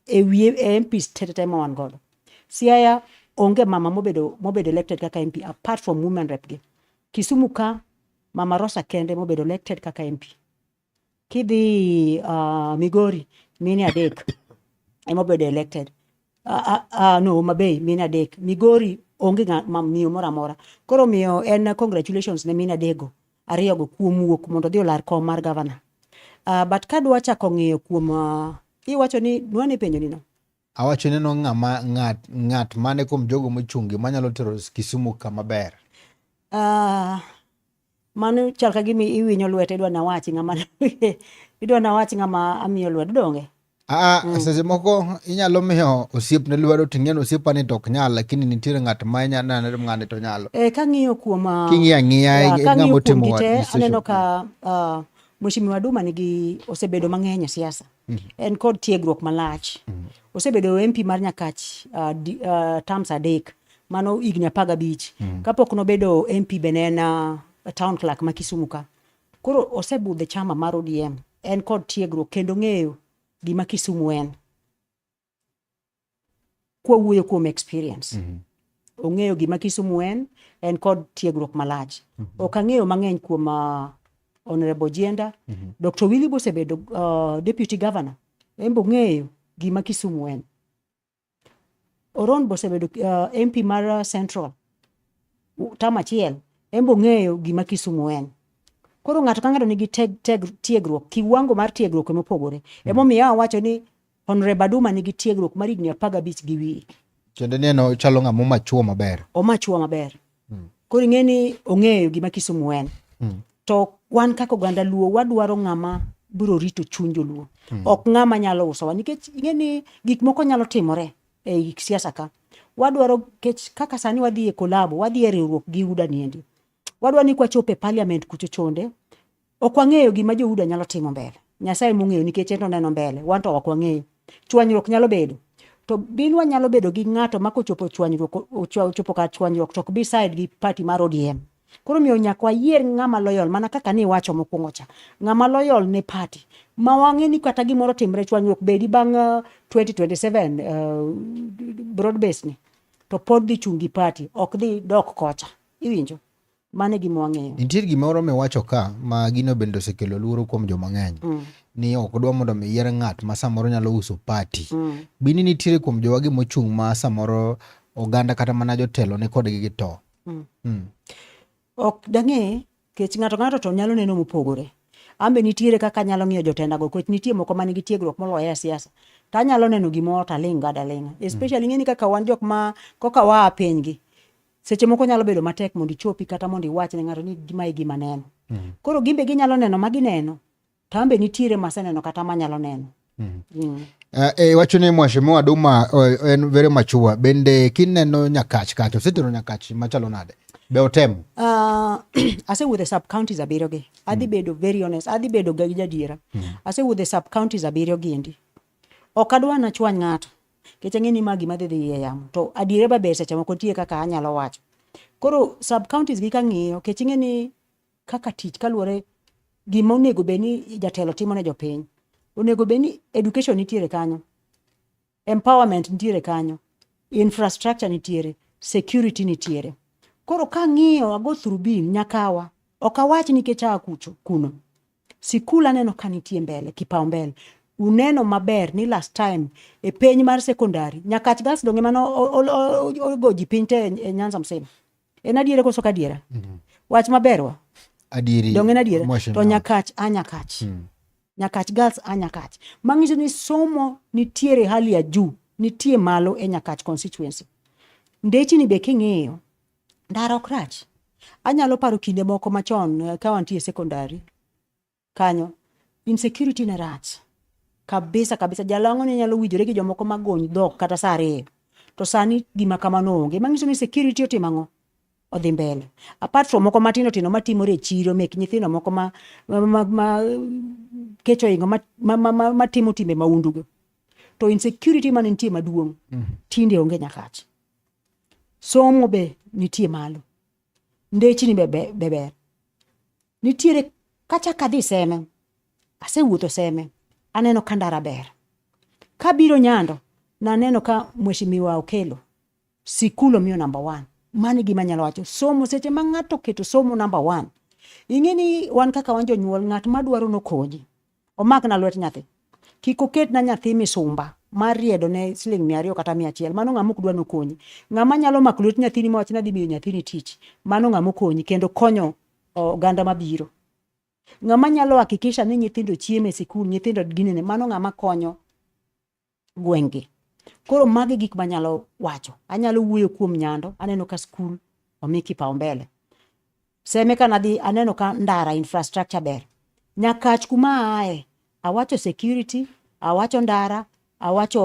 Speaker 1: E wiye e MPs tetete ma wan godo. Siaya onge mama mobedo, mobedo elected kaka MP apart from women rep gi. Kisumu ka mama Rosa kende mobedo elected kaka MP. kidhi uh, Migori mine adek ema obedo elected uh, uh, uh, no Homa Bay mine adek Migori onge ng'a- ma- miyo moro amora koro miyo en congratulations ne mine adego ariyogo kuom wuok mondo odhi olar kom mar gavana uh, but kadwa chako ng'iyo kuom uh, iwacho ni nwane penjo nino Awacho neno ng'ama ng'at ng'at mane kuom jogo mochungi manyalo tero Kisumu kama ber. Ah, mano chal ka gima iwinyo lwete idwa nawachi ng'ama idwa nawachi ng'ama amiyo lwedo donge? Aa, mm. seche moko inyalo miyo osiepne lwedo to ing'eyo ni osiepani to ok nyal lakini nitiere ng'at ma inyalo neno ni ng'ani to nyalo. Eh, kang'iyo kuom ah, king'iyo ang'iya ng'ama otimo aneno ka uh, Mheshimiwa Duma nigi osebedo mang'eny e siasa mm. en kod tiegruok malach mm. osebedo MP mar Nyakach uh, di, uh, terms adek mano higni apar gabich mm. kapok nobedo MP bene en uh, town clerk ma Kisumu ka koro osebudhe chama mar ODM en kod tiegruok kendo ng'eyo gima Kisumu en kwa wuoyo kuom experience mm -hmm. ong'eyo gima Kisumu en en kod tiegruok malach mm -hmm. ok ang'eyo mang'eny kuom uh, Honorable Jienda mm -hmm. Dr. Willy Bosebedo uh, deputy governor en bong'eyo gima Kisumu en Oron Bosebedo uh, MP mar uh, Central tam achiel en bong'eyo gima Kisumu en koro ng'ato ka ng'ato nigi teg, teg, tiegruok kiwango mar tiegruok emopogore mm -hmm. emomiyo awacho ni Honorable Aduma nigi tiegruok mar higni apar gabich gi wiye. Tiende ni en ochalo ng'ama omachuo maber. Omachuo maber. Hmm. Koro ing'e ni ong'eyo gima Kisumu en. Hmm. To wan kaka oganda Luo wadwaro ng'ama biro rito chuny joluo. Hmm. Ok ng'ama nyalo usowa nikech ing'e ni gik moko nyalo timore e gik siasa ka. Wadwaro kech kaka sani wadhi e kolabo, wadhi e riwruok gi UDA niendi. Wadwa ni kwachopo e parliament kucho chonde, Ok wang'eyo gima Johuda nyalo timo mbele. Nyasaye mong'eyo nikech en oneno mbele, wan to ok wang'eyo. Chwanyruok nyalo bedo. To binwa nyalo bedo gi ng'ato ma kochopo chwanyruok, ochopo kar chwanyruok to ok bi side gi party mar ODM. Koro miyo nyaka wayier ng'ama loyal mana kaka ni iwacho mokwongo cha. Ng'ama loyal ne party ma wang'e ni kata gimoro timre chwanyruok bedi bang' uh, 2027 uh, broad base ni to pod dhi chungi party ok dhi dok kocha. Iwinjo? Mano e gima wang'eyo. Nitie gimoro miwacho ka ma gino bende osekelo luoro kuom joma ng'eny. Mm. Ni ok odwa mondo mi yier ng'at ma samoro nyalo uso pati. Mm. Bini nitiere kuom jowa gima ochung' ma samoro oganda kata mana jotelo ne kodgi gi to. Mm. Mm. Ok dang'e kech ng'ato ng'ato to nyalo neno mopogore. Ambe nitiere kaka nyalo ng'iyo jotenda go kech nitie moko manigi tiegruok moloyo e siasa. To anyalo neno gimoro to aling' gada ling'a. Mm. Especially mm. ng'eni kaka wan jok ma koka waa pinygi. seche moko nyalo bedo matek mondo ichopi kata mondo iwach ne ng'ato ni mae gima neno mm -hmm. koro gimbe ginyalo neno ma gineno to ambe nitiere maseneno kata manyalo neno mm -hmm. mm. Uh, eh, e eh, wacho ni mwashimiwa Duma uh, en very mature bende kineno nyakach kacha osetero nyakach machalo nade be otemo uh, ah, asewuothe sub counties abiriyo gi adhi mm. bedo very honest adhi bedo ga gi jadiera mm. asewuothe sub counties abiriyo gi endi ok adwa nachwany ng'ato Nikech ang'e ni ma gima dhi dhi e yamo. To adiere ba ber seche moko nitie kaka anyalo wacho. Koro sub counties gi kang'iyo nikech ing'e ni kaka tich kaluwore gima onego bed ni jatelo timo ne jopiny. Onego bed ni education nitiere kanyo. Empowerment nitiere kanyo. Infrastructure nitiere. Security nitiere. Koro kang'iyo ago through bin nyakawa. Ok awach nikech aa kucho kuno. Sikul aneno ka nitie mbele kipaumbele uneno maber ni last time e piny mar sekondari nyakach gas donge mano ogo ji piny te e nyanza msima en adiere koso ka adiera mm -hmm. wach maberwa adieri donge en adiera to nyakach a nyakach mm. nyakach gas a nyakach mang'iso ni somo nitiere hali ya juu nitie malo e nyakach constituency ndechini be king'iyo Ndara ok rach. Anyalo paro kinde moko machon eh, ka wantie sekondari kanyo, insecurity ne rach kabisa kabisa. Jalang'o ne nyalo winjore gi jomoko magony dhok kata saa ariyo, to sani gima kamano onge. Mang'iso ni security otimo ang'o? Odhi mbele. Apart from moko matindo tindo matimore e chiro mek nyithindo moko ma, ma, ma, ma kecho ingo matimo ma, ma, ma, ma timbe maundugo to insecurity mane nitie maduong' mm. tinde onge nyakach somo be nitie malo ndechni be ber nitiere kachak adhi seme asewuotho seme aneno ka ndara ber kabiro nyando naneno ka mweshimiwa okelo sikul omiyo namba one mano gima nyalo wacho somo seche ma ng'ato oketo somo namba one ing'e ni wan kaka wan jonyuol ng'at madwaro nokonyi Omakna lwet nyathi. Kik oketna nyathi misumba mar riedo ne siling mia ariyo kata mia achiel. Mano ng'ama ok dwa nokonyi. Ng'ama nyalo mako lwet nyathini mawach ni adhi miyo nyathini tich, mano ng'ama okonyi kendo konyo oganda mabiro. Ng'ama nyalo hakikisha ni nyithindo chiemo e sikul, nyithindo ginene, mano ng'ama konyo gweng'gi. Koro magi gik manyalo wacho. Anyalo wuoyo kuom Nyando, aneno ka skul omi kipaumbele. Seme ka nadhi aneno ka ndara infrastructure ber. Nyakach kuma aaye, awacho security, awacho ndara, awacho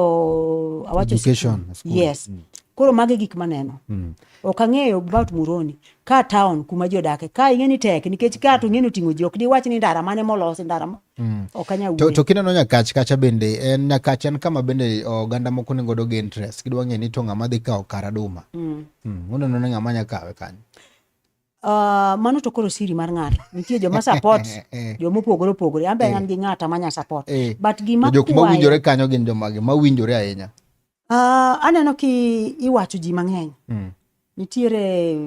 Speaker 1: awacho Education, skul. school. Yes. Koro magi gik maneno. Mm. Ok ang'eyo about Muroni. Ka town kuma ji odake. Ka ing'e ni tek nikech ka to ing'eni oting'o ji ok diwach ni ndara mane molosi ndara ma. Mm. Ok anyal wuoyo. To, to kineno nyakach kacha bende en nyakach en kama bende oganda moko nego do gain interest. Gidwa ng'e ni to ng'ama dhi kawo kar aduma. Mm. Mm. Uneno ni ng'ama nyakawe kanyo. Uh, mano to koro siri mar ng'ato nitie joma support eh, eh. joma opogore opogore an be eh. an gi ng'ata manya support but gima jok mawinjore kanyo gin jomage mawinjore ahinya Uh, aneno ki iwacho ji mang'eny mm. nitiere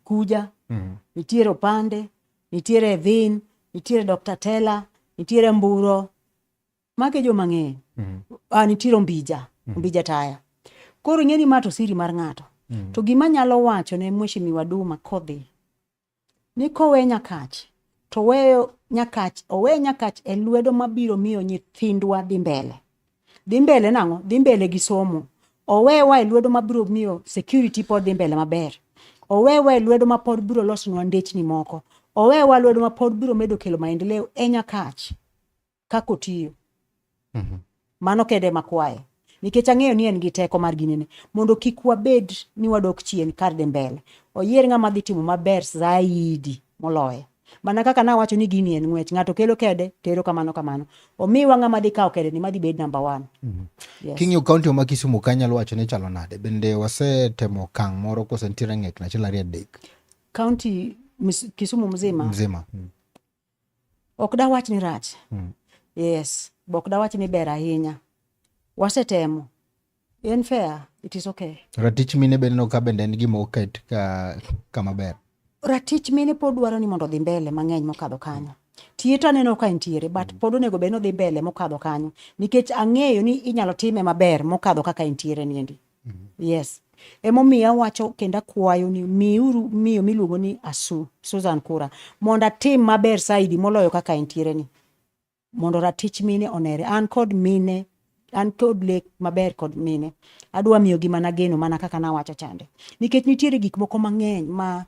Speaker 1: kuja mm. nitiere opande nitiere dhin nitiere dr tela nitiere mburo mage jo mang'eny mm. uh, nitiere ombija mm. ombija taya koro ing'e ni ma to siri mar ng'ato mm. to gima nyalo wacho ne mweshimiwa duma kodhi Ni kowe Nyakach to weyo Nyakach owe Nyakach e lwedo mabiro miyo nyithindwa dhi mbele. Dhi mbele nang'o? Dhi mbele gi somo. Owewa e lwedo mabiro miyo security pod dhi mbele maber. Owewa e lwedo ma pod biro losonwa ndechni moko. Owewa e lwedo ma pod biro medo kelo maendeleo e Nyakach. kaka otiyo mm -hmm. mano kende ema kwaye nikech ang'eyo ni en gi teko mar ginene mondo kik wabed ni wadok chien kar de mbele oyier ng'ama dhi timo maber zaidi moloye mana kaka nawacho ni gini en ng'wech ng'ato kelo kede tero kamano kamano omiwa ng'ama dhi kawo kede ni madhi bed namba one mm -hmm. yes. king'iyo kaunti ma kisumu ka nyalo wacho ni chalo nade bende wasetemo kang' moro kose nitiere ng'ek nachiel ariyo adek kaunti kisumu mzima mzima mm. Ok dawach ni rach. Mm. Yes, bok dawach ni ber ahinya. Wasetemo. En fair, it is okay. Ratich mine bende no ka bende en gima oket ka kama ber. Ratich mine pod dwaro ni mondo odhi mbele mang'eny mokadho kanyo. Tiye to aneno ka entiere but mm. pod onego bed ni odhi mbele mokadho kanyo nikech ang'eyo ni inyalo time maber mokadho kaka entiere niendi. yes emomiyo awacho kendo akwayo ni miuru miyo miluongo ni asu susan kura mondo atim maber saidi moloyo kaka entiere ni mondo ratich mine onere an kod mine an kod lek maber kod mine adwa miyogi mana geno mana kaka nawacho chande nikech nitiere gik moko mang'eny ma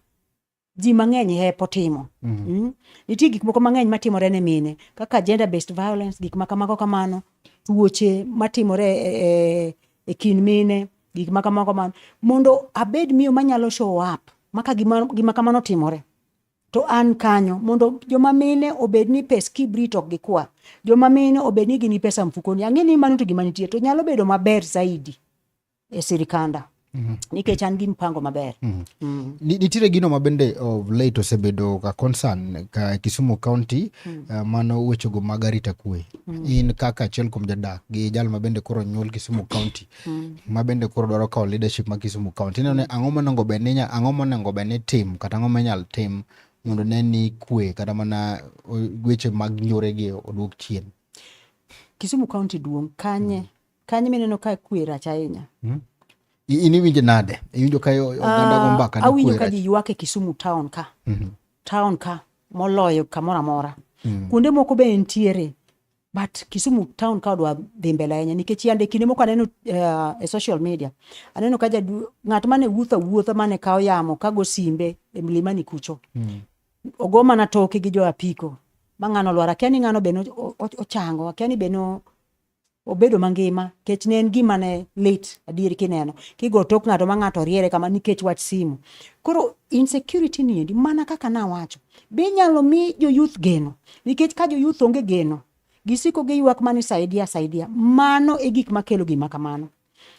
Speaker 1: ji mang'eny hepo timo mm -hmm. mm? nitie gik moko mang'eny matimore ne mine kaka gender based violence gik makamago kamano tuoche matimore e, e, e kind mine gik makamago kamano mondo abed miyo manyalo show up maka gima, gima kamano timore to an kanyo mondo joma mine obed ni pes kibrit ok gikwa joma mine obed ni gini pesa mfukoni ang'e ni mano to gima nitie to nyalo bedo maber zaidi e sirikanda Mm -hmm. nikech an gi mpango maber mm -hmm. mm. nitiere gino ma bende of late osebedo ka concern ka Kisumu County mm. uh, mano wechego mag arita kwe mm. in kaka achiel kuom jadak gi jal ma bende koro nyuol Kisumu County mm. ma bende koro dwaro kawo leadership ma Kisumu County ineno ni ang'o monego bed ni ang'o monego bed ni tim kata ang'o minyal tim mondo ne ni kwe kata mana weche mag nyoregi oduok chien Kisumu County duong' kanye mm. Kanyo mineno ka kwe rach ahinya. Hmm? In iwinjo nade? Iwinjo ka oganda go ah, mbaka? Awinjo ka ji ywak e Kisumu town ka. Mm -hmm. Town ka moloyo kamoro amora. Mm -hmm. Kuonde moko be nitiere but Kisumu town ka odwa dhi mbele ahinya nikech yande kinde moko aneno uh, e social media aneno ka jadu ng'at mane wuotha wuotha mane kawo yamo kago simbe e mlimani kucho mm. ogo mana toke gi jo apiko ma ng'ano lwar akia ni ng'ano bene ochango akia ni bene obedo mangima kech ne en gima ne lit adier kineno kigo tok ng'ato ma ng'ato riere kama nikech wach simu koro insecurity ni endi mana kaka nawacho be inyalo mi joyuth geno nikech ka joyuth onge geno gisiko giywak mani saidia saidia mano e gik makelo gima kamano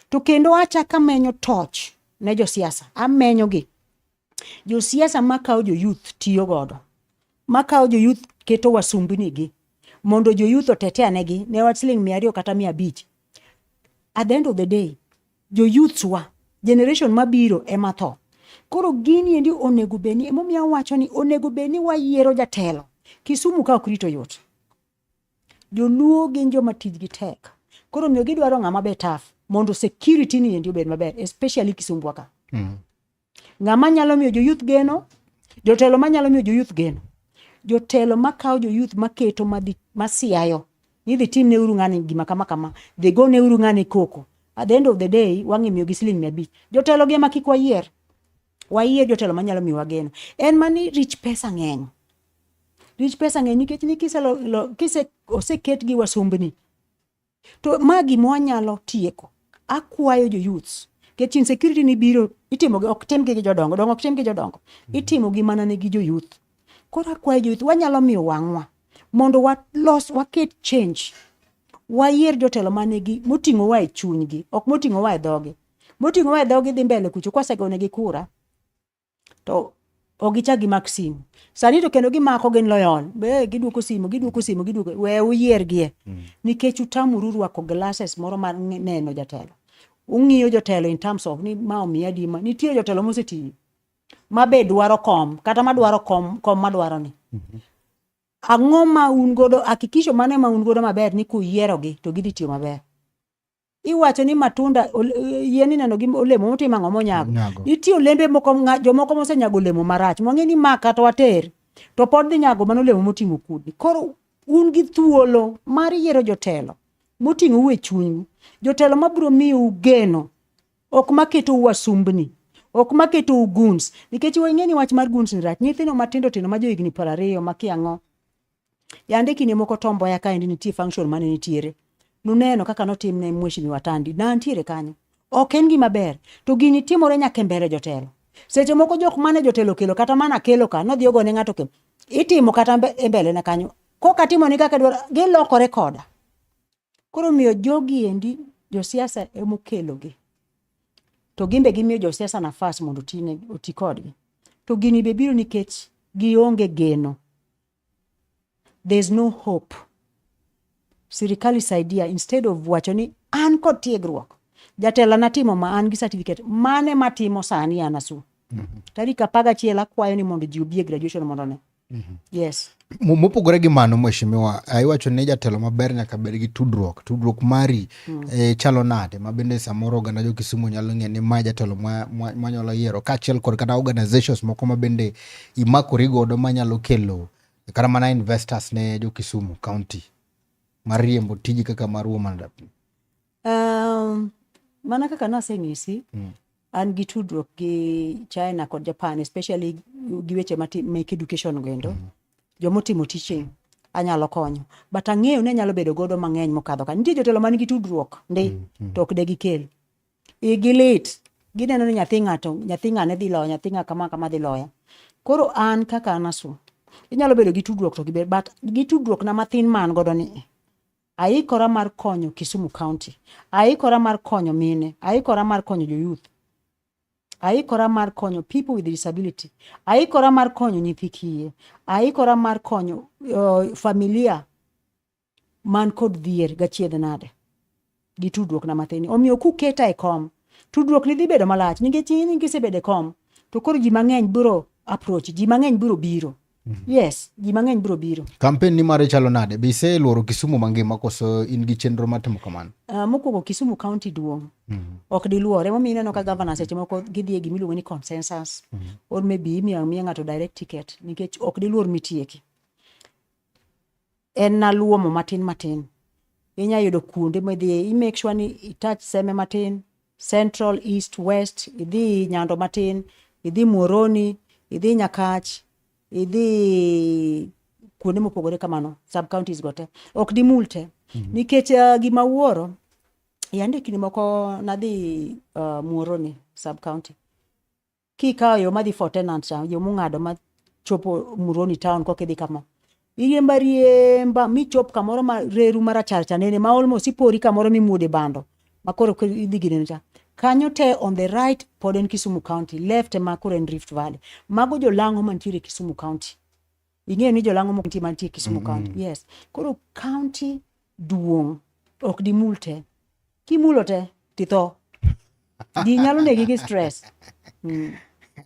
Speaker 1: to kendo achaka menyo toch ne josiasa amenyogi josiasa makawo joyouth tiyo godo makawo joyouth keto wasumbnigi mondo joyouth otete anegi ne wach siling mia ariyo kata mia abich at the end of the day joyouths wa generation mabiro ema tho koro gini endi onego bedni emomiyo awacho ni onego bedni wayiero jatelo kisumu ka ok rito yot joluo gin joma tijgi tek koro miyo gidwaro ng'ama be taf mondo security ni endi obed maber especially kisumbwa ka mm. Ng'ama nyalo miyo joyuth geno? Jotelo ma nyalo miyo joyuth geno. Jotelo ma kawo joyuth ma keto ma dhi ma siayo. Ni dhi tim ne uru ng'ani gima kama kama. Dhi go ne uru ng'ani koko. At the end of the day, wang'e miyo gi siling mia abich. Jotelo gi ema kik wayier. Wayier jotelo ma nyalo miyo wageno. En mani rich pesa ng'eny. Rich pesa ng'eny nikech ni kise lo, lo, kise oseket gi wasumbni. To ma gima wanyalo tieko. Akwayo jo youths nikech insecurity ni biro itimo gi ok tim gi jodongo dongo ok tim gi jodongo mm. itimo gi mana ne gi jo youth koro akwayo jo youth wanyalo miyo wang'wa mondo walos waket change wayier jotelo mane gi moting'o wa e chunygi ok moting'o wa e dhogi moting'o wa e dhogi dhi mbele kucho kwasegone gi kura to ok gichak gimak simu sani to kendo gimako gin loyon be giduoko simu giduoko simu giduoko we uyiergie mm. nikech utamuru rwako glasses moro mar neno jatelo ung'iyo jotelo in terms of ni ma omiya dima nitie jotelo mosetiyo ma be dwaro kom kata ma dwaro kom kom ma dwaro ni mm-hmm. ang'o ma un godo hakikisho mane ma un godo maber ni kuyierogi to gidhi tiyo maber iwacho ni matunda yien ineno gi olemo motimo ang'o monyago nitie olembe moko jomoko mosenyago olemo marach mwang'e ni ma kata water to pod dhi nyago mana olemo moting'o kudni koro un gi thuolo mar yiero jotelo moting'o u e chunyu jotelo mabiro miyo geno ok maketo wasumbni ok maketo guns nikech wang'e ni wach mar guns ni rach nyithindo matindo tindo ma johigni piero ariyo makia ang'o Yande kinde moko Tom Mboya kaendi nitie function mane nitiere. Nuneno kaka notim ne Mheshimiwa Tandi. Na antiere kanyo. Ok en gima ber. To gini timore nyaka e mbele jotelo. Seche moko jok mane jotelo kelo kata mana kelo ka nodhi ogone ng'ato ke. Itimo kata e mbele na kanyo. Koka timo ni kaka dwaro gilokore koda. Koro miyo jogi endi josiasa emokelogi. To gimbe gimiyo josiasa nafas mondo oti kodgi. To gini be biro nikech gionge geno. There is no hope. Sirikal isaidia instead of wacho ni an kod tiegruok. Jatela natimo ma an gi certificate mane matimo sani an asu. Mm-hmm. Tarik apagachiel akwayo ni mondo ji obi e graduation mondo ne. Mhm. Yes. Mopogore gi mano mheshimiwa, ah, iwacho ni jatelo maber nyaka bed gi tudruok. Tudruok mari mm. e, chalo nade ma bende samoro oganda jo Kisumu nyalo ng'e ni ma jatelo manyalo ma, yiero kaachiel kod kata organizations moko ma bende imakori godo manyalo kelo kata mana investors ne jo Kisumu County mar riembo tiji kaka mar Woman Rep. Um, mana kaka nasenyisi mm. an gi tudruok gi China kod Japan especially gi weche mek education goendo mm. jomotimo teaching anyalo konyo but ang'eyo ni anyalo bedo godo mang'eny mokadho ka nitie jotelo man gi tudruok ndi mm. mm. to ok de gikel igi lit gineno ni nyathi ng'ato nyathi ng'ane dhi loya nyathi ng'a kama kama dhi loya koro an kaka anasu inyalo bedo gi tudruok to giber but gi tudruok na mathin man godo ni Aikora mar konyo Kisumu County. Aikora mar konyo mine. Aikora mar konyo jo youth. Aikora mar konyo people with disability. Aikora mar konyo nyithi kiye. Aikora mar konyo uh, familia man kod dhier gachiedh nade gi tudruok na mathini. Omiyo kuketa e kom, tudruok ni dhi bedo malach nikech in kisebedo e kom to koro ji mang'eny biro approach, ji mang'eny biro biro. Mm. Yes, ji mang'eny biro biro. Kampen ni mare chalo nade? Be ise lworo Kisumu mangima koso in gi chenro mar timo kamano? Uh, mokwongo Kisumu County duong'. Mm -hmm. Ok diluore. Emomiyo ineno ka governor seche moko gidhi e gima iluongo ni consensus. Mm -hmm. Or maybe imiyo miya ng'ato direct ticket nikech ok diluor mitieki. en na luomo matin matin inya yudo kuonde midhiye i make sure ni itach seme matin central east west idhi nyando matin idhi muoroni idhi nyakach idhi kuonde mopogore kamano sub counties go te ok dimul te mm -hmm. nikech uh, gima wuoro yande kinde moko nadhi uh, muoroni sub county Kikawo yo madhi for tenant cha, yo mung'ado ma chopo Muroni town koka idhi kama. Iriemba riemba michop kamoro ma reru marachar cha nene ma almost ipori kamoro mimuode bando ma koro koro idhi gineno cha. Kanyo te on the right pod en Kisumu County, left ema koro en Rift Valley. Mago jolang'o mantiere Kisumu County. ing'eyo ni jolang'o moko nitie mantie Kisumu County yes koro county duong' ok dimul te kimulo te titho ji nyalo negi gi stress Mm.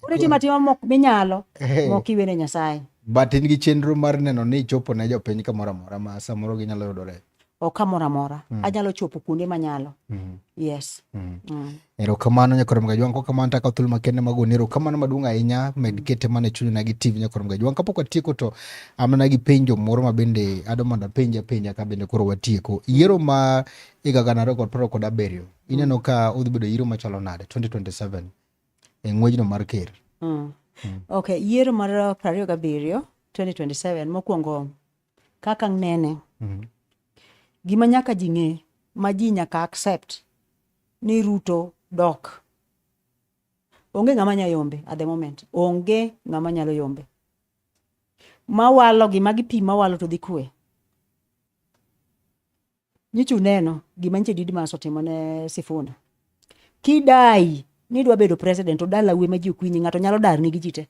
Speaker 1: koro itimo atima mok minyalo mok iwene Nyasaye but in gi chenro mar neno ni ichopo ne jopiny kamoro amora ma samoro ginyalo yudore o kamoro amora mm. anyalo chopo kuonde manyalo mm. yes mm. Mm. erokamano nyakorom gajwang kokamano taka thul makende magoni erokamano maduong' ahinya med mm. kete mana chuny na gi tv nyakorom gajwang kapok watieko to amana gi penjo moro ma bende ado mondo apenj apenja ka bende koro watieko yiero ma higa gana ariyo kod piero kod abiriyo mm. ineno ka udhi bedo yiero machalo nade 2027 e ng'wejno mar ker mm. mm. ok yiero mar piero ariyo gabiriyo 2027 mokwongo kaka ang' nene Mhm. gima nyaka ji ng'e ma ji nyaka accept ni ruto dok onge ng'ama nya yombe at the moment onge ng'ama nyalo yombe mawalo gi magi pi mawalo to dhi kwe Nyicha uneno gima nyicha Didmas otimo ne Sifuna. Kidai ni dwa bedo president to dala we ma ji okwinyi ng'ato nyalo dar ni gi ji te.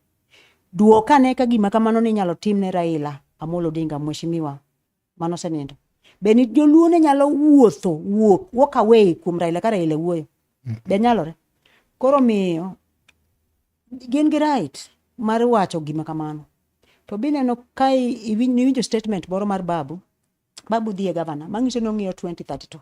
Speaker 1: Duok ane ka gima kamano ni nyalo tim ne Raila Amolo Odinga mheshimiwa mano senindo. Be ni joluo ne nyalo wuotho wuok walk away kuom Raila ka Raila wuoyo. Mm. Be nyalore. Koro miyo gin gi right mar wacho gima kamano. To bineno ka iwinjo statement moro mar babu babu dhi e gavana mang'iso ni ong'iyo 2032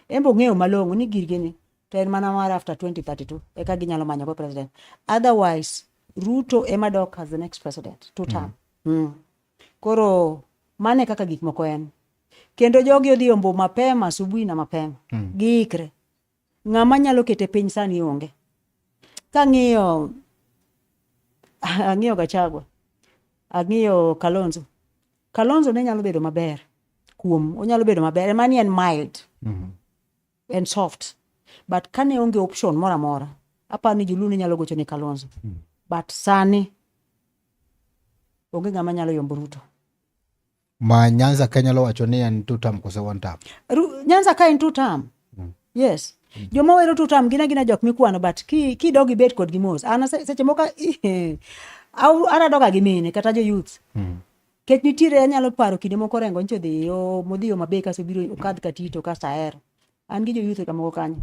Speaker 1: embe ong'eyo malong'o ni girgini to en mana mar after 2032 eka ginyalo manyo go president otherwise ruto ema dok as the next president two term mm. Mm. koro mane kaka gik moko en kendo jogi odhi ombo mapema asubuhi na mapema mm. giikre ng'ama nyalo kete piny sani onge kang'iyo ang'iyo gachagwa ang'iyo kalonzo Kalonzo ne nyalo bedo maber kuom onyalo bedo maber ema ni en mild mm -hmm. en soft but kane onge option moro amora aparo ni joluo ne nyalo gocho ne Kalonzo mm -hmm. but sani onge ng'ama nyalo yombo Ruto ma Nyanza ka nyalo wacho ni en two term kose one term Ru, Nyanza ka en two term mm. yes mm. joma wero tutam gina gina jok mikwano but ki ki dogi bet kod gimos ana seche moko au ana doga gi mine kata jo youth mm. kech nitiere anyalo paro kinde moko rengo ncho dhi yo modhi yo mabe kaso biro okadh katito kasto ahero an gi jo youth kamoko kanyo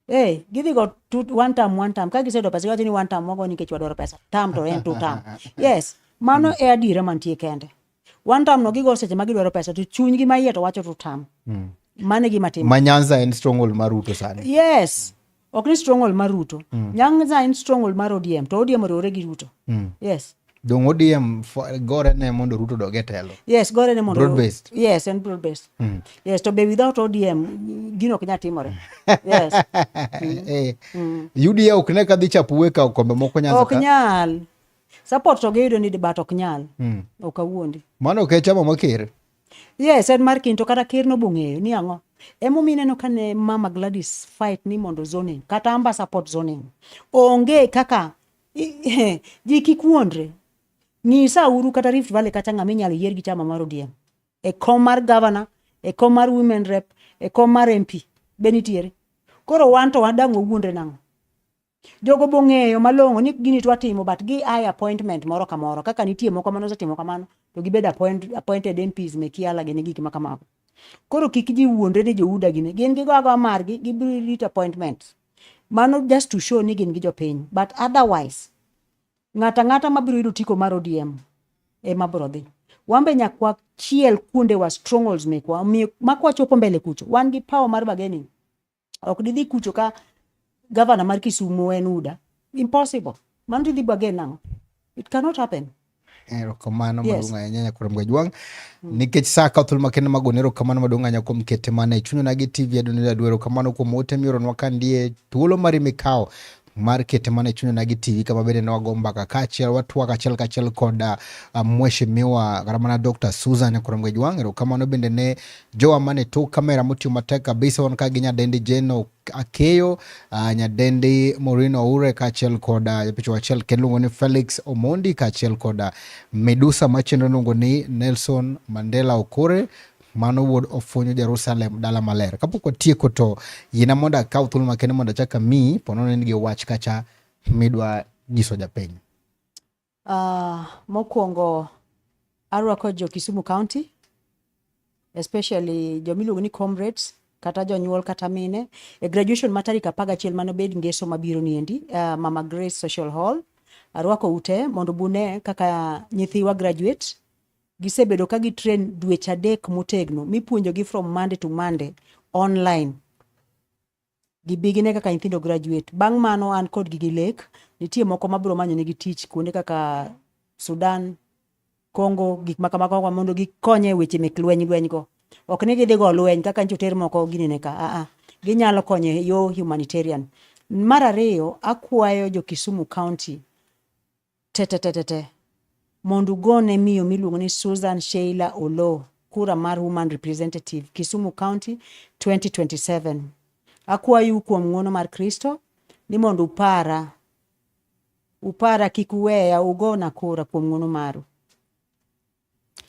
Speaker 1: Hey, gidhi go two, one time one time ka gisedo pesa giwacho ni one time wago nikech wadwaro pesa tam to en two time yes mano e adiera mantie kende One time no gigo seche ma gidwaro pesa to chunygi ma iye to wacho to tam. Mm. Mane gima timo. Ma Nyanza en stronghold mar Ruto sani. Yes. Ok ni stronghold mar Ruto. Mm. Nyanza en stronghold mar ODM to ODM oriwore gi Ruto. Mm. Yes. Dongo ODM gore ne mondo Ruto doge telo. Yes, gore ne mondo. Broad based. Yes, and broad based. Mm. Yes, to be without ODM gino knya timore. Yes. mm. Eh. Mm. UDA ok ne kadhi chapuwe ka kombe moko Nyanza. Ok nyal. support to giyudo ni debat ok nyal mm. ok awuondi mano ok e chama ma ker yes en mar kinto kata ker nobong'eyo ni ang'o emomiyo ineno ka ne mama Gladys fight ni mondo zoning kata amba support zoning onge kaka ji kik wuondre nyisa uru kata Rift Valley kacha ng'ama inyalo yier gi chama mar ODM e kom mar governor e kom mar women rep e kom mar MP be nitiere koro wan to wadang' owuondre nang'o Jogo bong'eyo malong'o ni gini twa timo but gi ai appointment moro kamoro kaka nitie moko mane osetimo kamano to gibed appoint, appointed MPs me kiala gi gik ma kamago. Koro kik ji wuondre ni jouda gine gin gigo agoa margi gibiro rito appointment. Mano just to show ni gin gi jopiny but otherwise ng'ata ng'ata mabiro yudo tiko mar ODM ema biro dhi. Wan be nyakwa chiel kuonde wa strongholds mekwa omiyo makwachopo mbele kucho wan gi power mar bargaining ok didhi kucho ka gavana mar Kisumu en UDA. Impossible. Mano tidhi bwage nang'o? It cannot happen. erokamano yes. maduong' ahinya nyakoro mgajwang' mm. nikech saa ka thuolo makende magone erokamano maduong' ahinya kuom kete mana e chunyona gi tv adoneda dwe erokamano kuom ote mioronwa ka ndie thuolo mari mikawo mar kete mana e chunya na gi TV kama bende ne wago mbaka kaachiel watwak achiel kachiel kod uh, ah, mheshimiwa kata mana Dr. Susan Kuromgej Wang' erokamano bende ne jowa mane tok kamera motiyo matek kabisa wan ka gi nyadendi Jeno Akeyo uh, ah, nyadendi Maureen Oure kaachiel kod ah, japicha uh, achiel kendo luongo ni Felix Omondi kaachiel kod uh, Medusa machendo luongo ni Nelson Mandela Okore Mano wuod ofwenyo Jerusalem dala maler. Kapok watieko to yiena mondo akaw thuolo makende mondo achak amiyi pono ne nigi wach kacha midwa nyiso japiny. Uh, mokwongo arwako jo Kisumu County especially jomiluongo ni comrades kata jonyuol kata mine e graduation ma tarik apar gachiel mane obed ngeso mabiro niendi uh, Mama Grace Social Hall arwako ute mondo bune kaka nyithiwa graduate Gisebedo ka gi train dweche adek motegno mipuonjogi from Monday to Monday online. Gibigine kaka nyithindo graduate. Bang' mano an kodgi gi lek, nitie moko mabiro manyonegi tich kuonde kaka Sudan, Congo, gik ma kamago mondo gikonye e weche mek lweny lweny go. Ok ni gidhi go lweny kaka nyocha oter moko ginene ka, a a. Ginyalo konyo e yo humanitarian. Mar ariyo, akwayo jo Kisumu County Tetetetete. Mondo ugone miyo miluongo ni Susan Sheila Oloo kura mar Woman Representative, Kisumu County 2027. Akwayou kuom ng'wono mar Kristo ni mondo upara upara kik uweya ugona kura kuom ng'wono maru.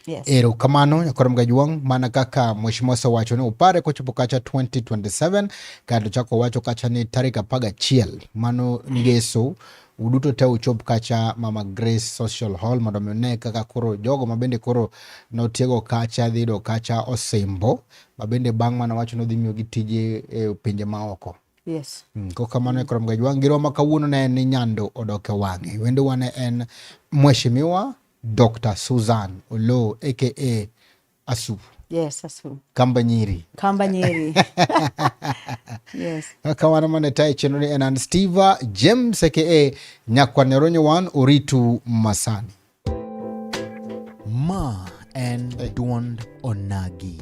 Speaker 1: Yes. Ero kamano nyakwar Mgajuang, mana kaka mheshimiwa osewacho ni upare kochopo kacha 2027 kato chako wacho kacha ni tarik apaga chiel mano ngeso uduto te uchop kacha Mama Grace Social Hall mondo mi one kaka koro jogo mabende koro notiego kacha dhi yudo kacha osimbo mabende bang' mano wacho nodhi miyogi tije e pinje maoko. Yes. Mm, ko kamano mm. Krom Gajwang' giroma kawuono ne en ni Nyando odok e wang'e. Wendo wane en Mheshimiwa Dr. Susan Olo aka Asu. Yes, Asu. Kamba Nyiri. Kamba Nyiri. yes. Kawana mana tai chino ni enan Steve James aka Nyakwa Neronyo Wan Oritu Masani. Ma en hey. Duond Onagi.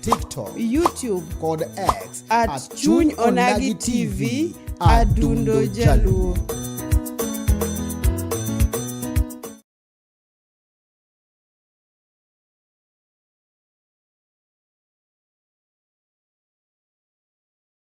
Speaker 1: TikTok, YouTube kod X at, at Chuny Onagi TV Adundo Jaluo.